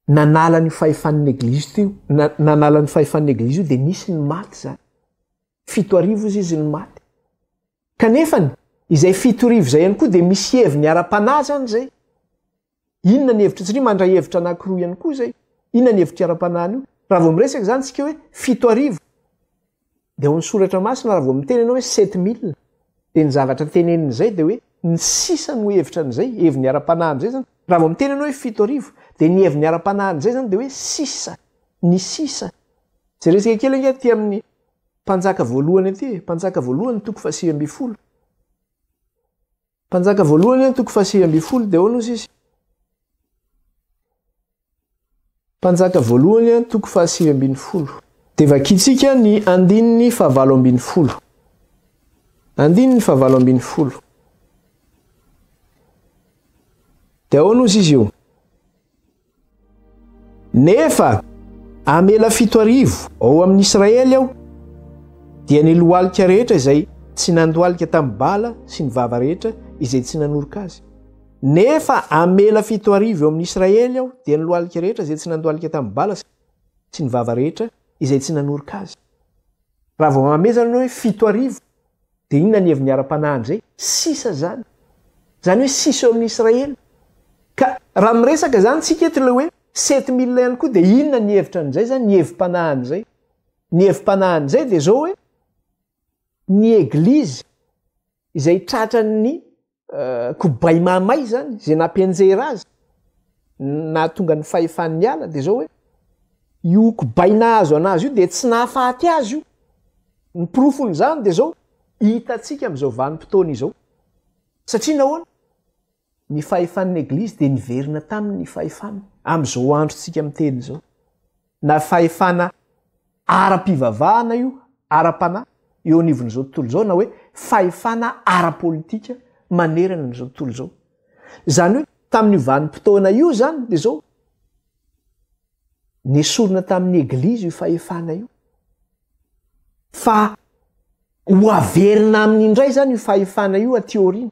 nanala ny fahefan'ny eglizy teo nanala ny fahefan'ny eglizy io de nisy ny maty zany fito arivo izy izy ny maty kanefany izay fito rivo zay ihany koa de misy heviny ara-panahy zany zay Inona ny hevitry tsri mandray hevitra anakiroa ihany koa izay inona ny hevitry ara-panahy anio raha vao miresaka izany tsika hoe fito arivo dia ao amin'ny soratra masina raha vao miteny ianao hoe sept mille dia ny zavatra teneniny izay dia hoe ny sisa no hevitra an'izay heviny ara-panahy an'izay zany raha vao miteny ianao hoe fito arivo dia ny heviny ara-panahy an'izay zany dia hoe sisa ny sisa jeresika kely ange aty amin'ny mpanjaka voalohany aty mpanjaka voalohany toko fahasivy ambin'ny folo Mpanjaka voalohany eo toko fahasivy ambin'ny folo dia ahoana hozy izy? Mpanjaka voalohany eo toko fahasivy ambin'ny folo. Dia vakintsika ny andininy fahavalo ambin'ny folo. Andininy fahavalo ambin'ny folo. Dia ahoana hozy izy io? Nefa hamela fito arivo ao amin'ny Israely aho, dia ny lohalika rehetra izay tsy nandohalika tamin'i Bala sy ny vava rehetra izay tsy nanoroka azy. Nefa hamela fito arivo eo amin'ny Israely aho, dia ny lohalika rehetra izay tsy nandohalika tamin'i Bala sy ny vava rehetra izay tsy nanoroka azy. Raha vao mamezana ny hoe fito arivo, Dia inona ny heviny ara panahy an'izay? Sisa izany. Izany hoe sisa eo amin'ny Israely. Ka raha miresaka izany tsika eto ilay hoe sept mille ihany koa dia inona ny hevitra an'izay izany, ny hevi panahy an'izay? Ny hevi panahy an'izay dia izao hoe ny eglizy izay tratran'ny kobay mahamay izany, izay nampianjera azy, nahatonga ny fahefany niala, dia izao hoe, io kobay nahazo an'azy io dia tsy nahafaty azy io. Ny porofon'izany dia izao, hitantsika amin'izao vanim-potoana izao. Satria nahoana? Ny fahefan'ny Eglizy dia niverina taminy ny fahefany, amin'izao androntsika miteny izao. Na fahefana ara-pivavahana io, ara-panahy, eo anivon'izao tontolo izao, na hoe fahefana ara-politika manerana an'izao tontolo izao. Izany hoe tamin'io vanim-potoana io izany dia izao, nesorina tamin'ny Eglizy io fahefana io, fa ho averina aminy indray izany io fahefana io aty aoriana.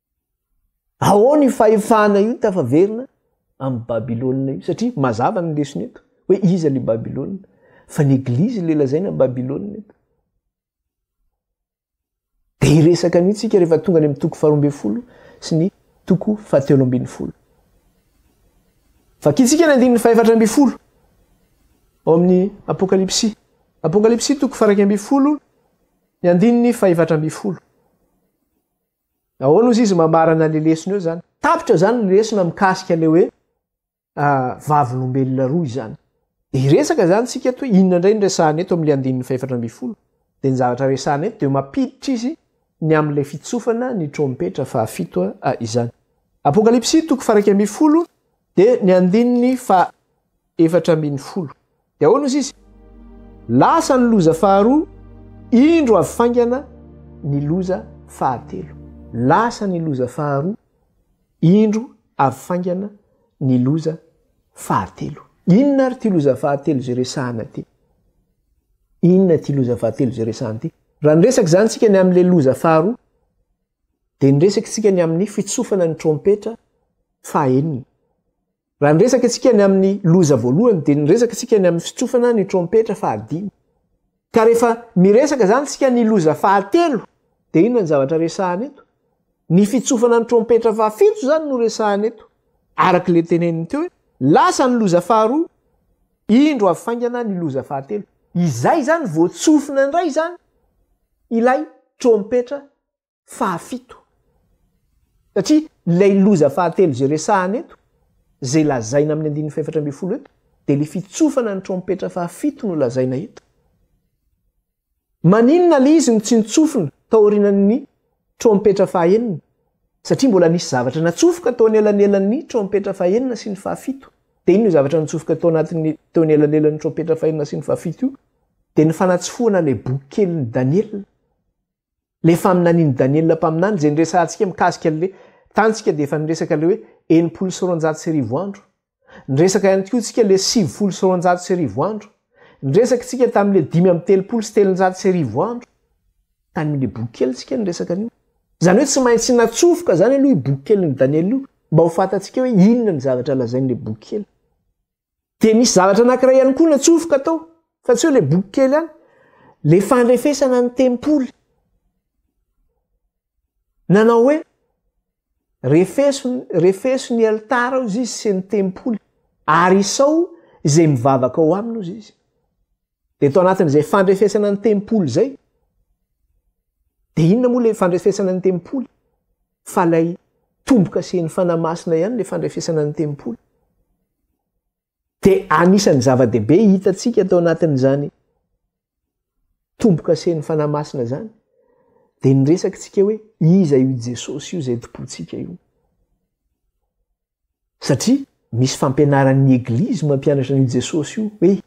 Ahoana io fahefana io tafaverina amin'i Babylona io? Satria mazava ny lesona eto hoe iza ilay Babylona, fa ny Eglizy ilay lazaina Babylona eto. Dia hiresaka an'io tsika rehefa tonga any amin'ny toko faharoambe folo sy ny toko fahatelo ambin'ny folo. Vakitsika ny andininy fahefatra ambin'ny folo ao amin'ny Apokalypsy. Apokalypsy toko faraika ambin'ny folo ny andininy fahefatra ambin'ny folo. Ahoana ozy izy mamarana le lesona eo zany? Tapitra zany ny lesona mikasika le hoe vavolombelona roa izany. De hiresaka zany tsika eto hoe inona ndray ny resahana eto amle andininy fahefatra ambin'ny folo. De ny zavatra resahana eto de mapiditra izy ny amle fitsofana ny trompetra faha fito izany. Apokalypsy toko faha iraika ambin'ny folo de ny andininy faha efatra ambin'ny folo. Dia ahoana hozy izy? Lasa ny loza faharoa, indro avy faingana ny loza fahatelo. Lasa ny loza faharoa, indro avy faingana ny loza fahatelo. Inona ary ity loza fahatelo izay resahana ity? Inona ity loza fahatelo izay resahana ity? Raha niresaka izany tsika ny amin'ilay loza faharoa, dia niresaka tsika ny amin'ny fitsofana ny trompetra fahenina. Raha niresaka isika ny amin'ny loza voalohany dia niresaka isika ny amin'ny fitsofana ny trompetra fahadimy. Ka rehefa miresaka izany isika ny loza fahatelo dia inona ny zavatra resahana eto? Ny fitsofana ny trompetra fahafito izany no resahana eto. Araka ilay teneniny teo hoe lasa ny loza faharoa, indro avy faingana ny loza fahatelo. Izay izany vao tsofina indray izany ilay trompetra fahafito. Satria ilay loza fahatelo izay resahana eto, izay lazaina amin'ny andininy fahefatra ambin'ny folo eto, dia ilay fitsofana ny trompetra fahafito no lazaina eto. Maninona ilay izy no tsy nitsofina tao aorianan'ny trompetra fahaenina? Satria mbola nisy zavatra natsofoka tao anelanelan'ny trompetra fahaenina sy ny fahafito. Dia inona io zavatra nitsofoka tao anatin'ny tao anelanelan'ny trompetra fahaenina sy ny fahafito io? Dia ny fanatsofohana ilay boky kelin'i Daniela. Ilay faminanian'i Daniela mpaminany, izay niresahantsika mikasika an'ilay tantsika dia efa niresaka ilay hoe enimpolo sy roanjato sy arivo andro. Niresaka ihany koa isika ilay sivifolo sy roanjato sy arivo andro. Niresaka isika tamin'ilay dimy amby telopolo sy telonjato sy arivo andro. Tany amin'ilay boky kely isika no niresaka an'io. Izany hoe tsy maintsy natsofoka izany aloha io boky kelin'i Daniela io mba ho fantatsika hoe inona ny zavatra lazain'ilay boky kely. Dia misy zavatra anankiray ihany koa natsofoka tao, fa tsy hoe ilay boky kely ihany, ilay fandrefesana ny tempoly. Nanao hoe, refeso, refeso ny alitara ao izy sy ny tempoly, ary isao izay mivavaka ao aminy ao izy. De tao anatin'izay fandrefesana ny tempoly zay, de inona moa le fandrefesana ny tempoly fa lay tombo-kasen'ny Fanahy Masina ihany le fandrefesana ny tempoly. De anisan'ny zava-dehibe hitantsika tao anatin'izany tombo-kasen'ny Fanahy Masina zany, de ny resakitsika hoe iza io Jesosy io zay tompointsika io. satria misy fampianaran'ny eglizy mampianatra an'io Jesosy io hoe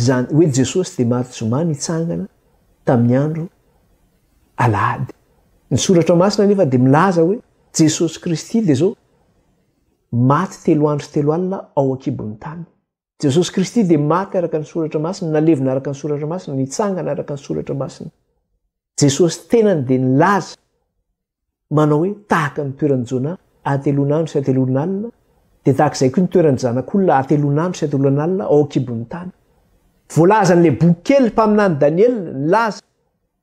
zany hoe Jesosy dia maty zoma nitsangana tamin'ny andro alahady. Ny soratra masina anefa dia milaza hoe Jesosy Kristy dia zao maty telo andro sy telo alina ao an-kibon'ny tany. Jesosy Kristy dia maty araka ny soratra masina, nalevina araka ny soratra masina, nitsangana araka ny soratra masina. Jesosy tenany dia nilaza manao hoe tahaka ny toeran'i Jona atelonandro sy atelonalina dia tahaka izay koa ny toeran'ny zanak'olona atelonandro sy atelonalina ao an-kibon'ny tany. Voalazan'ilay boky kely mpaminany Daniela nilaza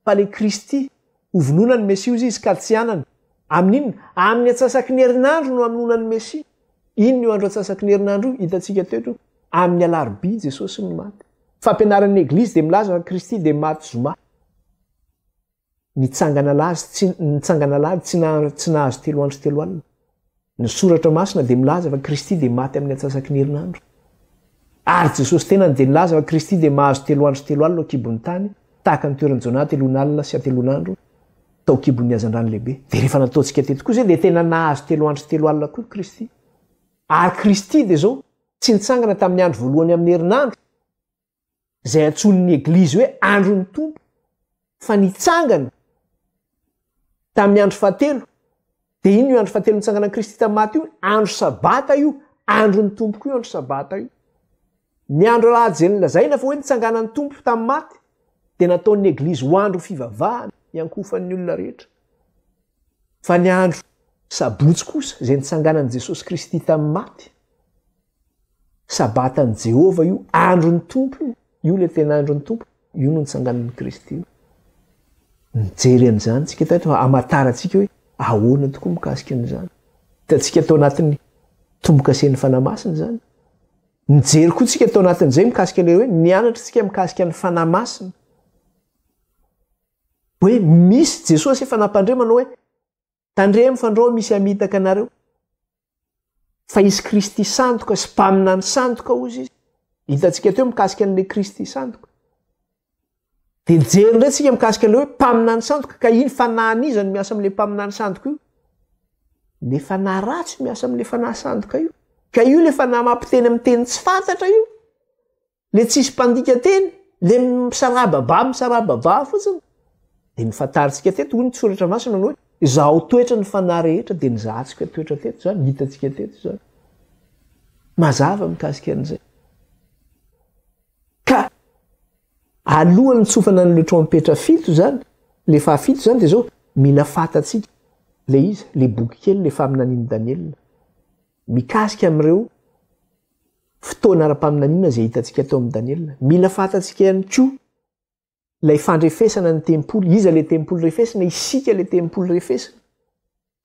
fa le Kristy, hovonoina ny Mesia ozy izy ka tsy hanana, amin'ny inona? Amin'ny atsasaky ny herinandro no hamonoana ny Mesia. Inona io andro atsasaky ny herinandro io? Hitantsika teo aloha, amin'ny alarobia Jesosy no maty. Fampianaran'ny Eglizy dia milaza fa Kristy dia maty zoma. Nitsangana lazy tsy, nitsangana alahady tsy nahazo telo andro sy telo alina. Ny Soratra Masina dia milaza fa Kristy dia maty amin'ny antsasaky ny herinandro. Ary Jesosy tenany dia nilaza fa Kristy dia mahazo telo andro sy telo alina ao an-kibon'ny tany, tahaka ny toeran'i Jonah ateloina alina sy ateloina andro tao an-kibon'ny hazandrano lehibe. Dia rehefa nataontsika teto koa izay dia tena nahazo telo andro sy telo alina koa Kristy. Ary Kristy dia izao, tsy nitsangana tamin'ny andro voalohany amin'ny herinandro, izay antsoin'ny Eglizy hoe andron'ny Tompo, fa nitsangana tamin'ny andro fahatelo, dia iny io andro fahatelo nitsanganan'i Kristy tamin'ny maty io, andro sabata io, andron'ny Tompoko io andro sabata io. Ny andro alahadiny lazaina fa hoe nitsanganan'ny Tompo tamin'ny maty, dia nataon'ny Eglizy ho andro fivavahana iankohofan'ny olona rehetra. Fa ny andro sabotsy kosa, izay nitsanganan'i Jesosy Kristy tamin'ny maty, Sabatan'i Jehovah io, andron'ny Tompo io. Io ilay tena andron'ny Tompo. Io no nitsanganan'i Kristy io. Mijery an'izany tsika tato, hamantarantsika hoe ahoana tokoa mikasika an'izany. Hitantsika tao anatin'ny tombokasen'ny Fanahy Masina izany. Mijery koa tsika tao anatin'izay mikasika ilay hoe nianatra tsika mikasika ny Fanahy Masina. Hoe misy Jesosy efa nampandre manao hoe Tandremo fa ndrao misy hamitaka anareo fa izy Kristy sandoka sy mpaminany sandoka ozy izy. Hitantsika teo mikasika an'ilay Kristy sandoka. Dia jery indray tsika mikasika an'ilay hoe mpaminany sandoka ka iny fanahan'iza no miasa amin'ilay mpaminany sandoka io. Le fanahy ratsy miasa amin'ilay fanahy sandoka io. Ka io le fanahy mampiteny amin'ny teny tsy fantatra io. le tsisy mpandika teny le misaraba ba misaraba ba fotsiny de ny fantarintsika teto hoy ny tsoratra masina ny hoe izaho toetra ny fanahy rehetra de nizahantsika toetra teto zany hitantsika teto zany mazava mikasika an'izay ka alohan'ny tsofana ny letrompetra fito zany le fahafito zany de zao mila fantatsika le izy le boky kely le faminanian'i daniela mikasika amin'ireo Fotoana ara-paminaniana izay hitantsika tao amin'i Daniela. Mila fantatsika ihany koa ilay fandrefesana ny tempoly. Iza ilay tempoly refesina? Isika ilay tempoly refesina.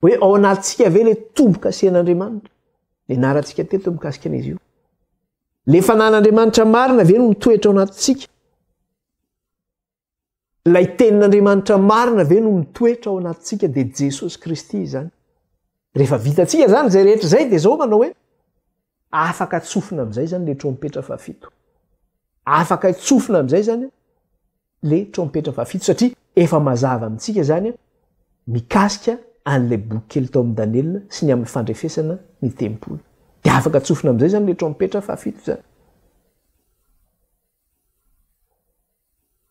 Hoe ao anatintsika ve ilay tombo-kasihan'Andriamanitra? Nianarantsika teto mikasika an'izy io. Le fanan'Andriamanitra marina ve no mitoetra ao anatintsika? Ilay tenin'Andriamanitra marina ve no mitoetra ao anatintsika dia Jesosy Kristy izany. Rehefa vitantsika izany izay rehetra izay dia izao manao hoe afaka tsofina amin'izay izany le trompetra fahafito. Afaka tsofina amin'izay izany le trompetra fahafito satria efa mazava amintsika izany mikasika an'ilay boky kely tao amin'ny Daniela sy ny amin'ny fandrefesana ny tempoly. Dia afaka tsofina amin'izay izany le trompetra fahafito izany.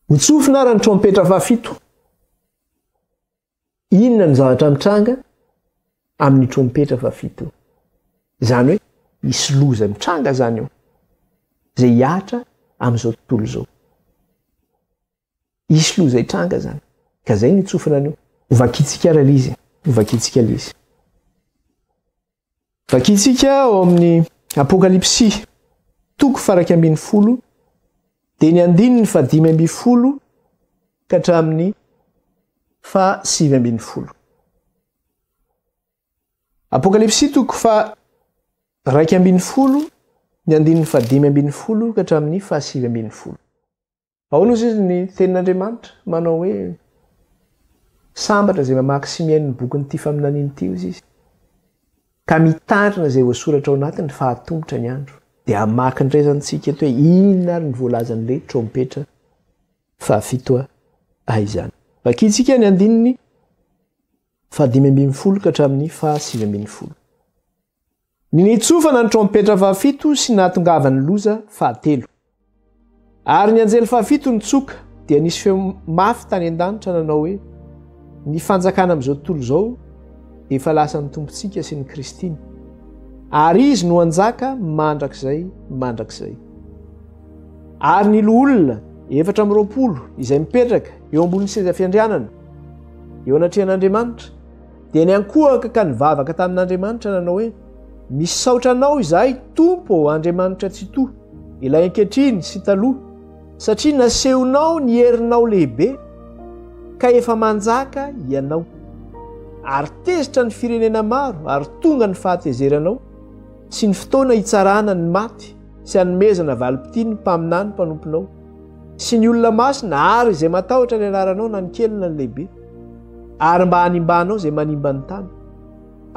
Nitsofina ary ny trompetra fahafito. Inona ny zavatra mitranga amin'ny trompetra fahafito? Izany hoe hisy loza mitranga izany eo, izay hihatra amin'izao tontolo izao. Hisy loza hitranga izany, ka izay no itsofina an'io. Hovakintsika ary ilay izy, hovakintsika ilay izy. Vakintsika ao amin'ny Apokalypsy, toko faraika ambin'ny folo, dia ny andininy fahadimy ambin'ny folo ka hatramin'ny fahasivy ambin'ny folo. Apokalypsy toko fa raika ambin'ny folo ny andininy fahadimy ambin'ny folo ka hatramin'ny fahasivy ambin'ny folo. Ahoana ozy izy ny tenin'Andriamanitra? Manao hoe, Sambatra izay mamaky sy mihaino ny bokin'ity faminaniana ity ozy izy, ka mitandrina izay voasoratra ao anatiny fa hatomotra ny andro. Dia hamaky ny rezantsika eto hoe inona ary ny voalazan'ilay trompetra fahafito a izany. Vakintsika ny andininy fahadimy ambin'ny folo ka hatramin'ny fahasivy ambin'ny folo. Nitsofana ny trompetra fahafito sy nahatongavan'ny loza fahatelo. Ary ny anjely fahafito nitsoka, dia nisy feo mafy tany an-danitra nanao hoe, Ny fanjakana amin'izao tontolo izao dia efa lasan'ny Tompontsika sy ny Kristiny, ary Izy no hanjaka mandrakizay mandrakizay. Ary ny loholona efatra amby roapolo izay mipetraka eo ambonin'ny seza fiandrianana eo anatrehan'Andriamanitra, Dia niankohoka ka nivavaka tamin'Andriamanitra nanao hoe, Misaotra anao izahay, Tompo ô Andriamanitra Tsitoha, ilay ankehitriny sy taloha, satria nasehonao ny herinao lehibe, ka efa manjaka ianao. Ary tezitra ny firenena maro ary tonga ny fahatezeranao, sy ny fotoana hitsarana ny maty sy hanomezana valim-pitia ny mpaminany mpanomponao. sy ny olona masina ary izay matahotra ny anaranao na ny kely na ny lehibe ary mba hanimbanao izay manimba ny tany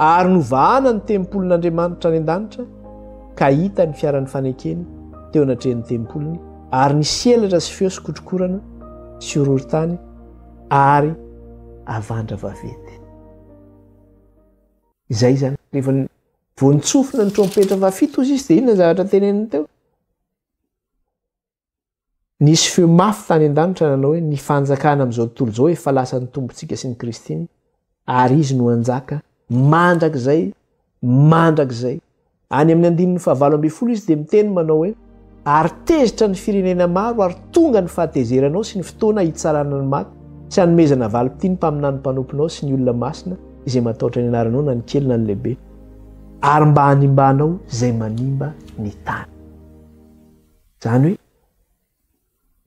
ary novahana ny tempolin'andriamanitra any an-danitra ka hita ny fiaran'ny fanekeny teo anatrehan'ny tempoliny ary ny selatra sy feo sykotrokorana sy orory tany ary avandra vavety izay zany rehefa voantsofina ny trompetra fafito zy izy de inona zavatra teneniny teo Nisy feo mafy tany an-danitra nanao hoe, Ny fanjakana amin'izao tontolo izao efa lasan'ny Tompontsika sy ny Kristina, ary Izy no hanjaka mandrakizay mandrakizay. Any amin'ny andininy fahavalo ambin'ny folo Izy dia miteny manao hoe, Ary tezitra ny firenena maro, ary tonga ny fahatezeranao sy ny fotoana hitsarana ny maty, sy hanomezana valim-pitia ny mpaminany mpanomponao sy ny olona masina izay matahotra ny anaranao na ny kely na ny lehibe, ary mba hanimbanao izay manimba ny tany. Izany hoe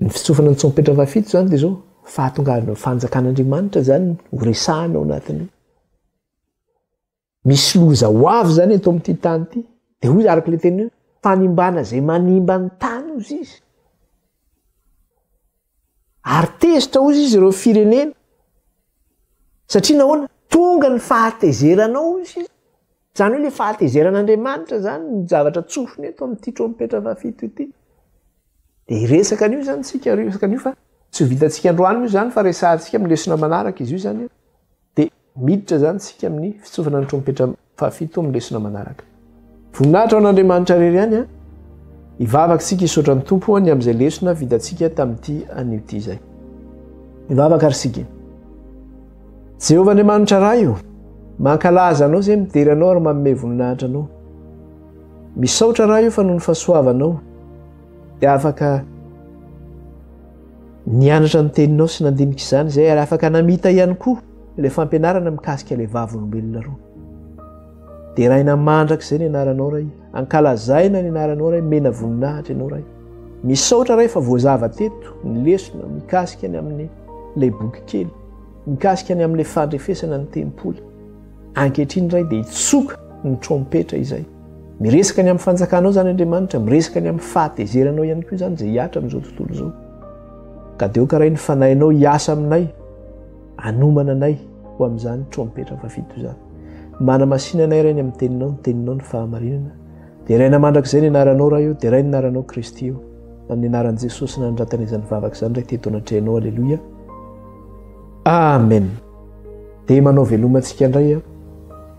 ny fitsofana ny tsômpetra fahafito izany dia izao, fahatongavan'ny fanjakan'Andriamanitra izany ho resahana ao anatin'ny misy loza ho avy izany eto amin'ity tany ity. Dia hoy araka ilay teny hoe fanimbana izay manimba ny tany hozy izy. Ary tezitra hozy izy ireo firenena. Satria nahoana? Tonga ny fahatezeranao hozy izy. Izany hoe ilay fahatezeran'Andriamanitra izany ny zavatra tsofina eto amin'ity trompetra fahafito ity. Dia hiresaka an'io izany isika, hiresaka an'io fa tsy ho vitantsika androany moa izany fa resahantsika amin'ny lesona manaraka izy io izany. Dia miditra izany isika amin'ny fitsofana ny trompetra fahafito amin'ny lesona manaraka. Voninahitra ho an'Andriamanitra irery ihany an! Hivavaka isika hisaotra ny Tompo hoany amin'izay lesona vitantsika tamin'ity anio ity izay. Hivavaka ary isika. Jehovah Andriamanitra Ray o! Mankalaza Anao izay midera Anao ary manome voninahitra Anao. Misaotra Ray o fa noho ny fahasoavanao dia afaka Nianatra ny Teninao sy nandinika izany izahay ary afaka namita ihany koa ilay fampianarana mikasika ilay Vavolombelona roa. Deraina mandrakizay ny anaranao Ray, ankalazaina ny anaranao Ray, mena voninahitra ianao Ray. Misaotra Ray fa voazava teto ny lesona mikasika ny amin'ny ilay boky kely, mikasika ny amin'ilay fandrefesana ny tempoly. Ankehitriny Ray dia hitsoka ny trompetra izay. Miresaka ny amin'ny fanjakanao izany Andriamanitra, miresaka ny amin'ny fahatezeranao ihany koa izany izay hiatra amin'izao tontolo izao. Ka dia hokaray ny fanahinao hiasa aminay, anomana anay ho amin'izany trompetra fafito izany. Manamasina anay Rainy amin'ny teninao, ny teninao ny fahamarinana. Deraina mandrakizay ny anaranao Ray eo, deraina ny anaranao Kristy eo. Amin'ny anaran'i Jesosy nanandratana izany vavaka izany Ray teto anatrehanao. Aleloia. Amen. Dia manao veloma antsika indray aho.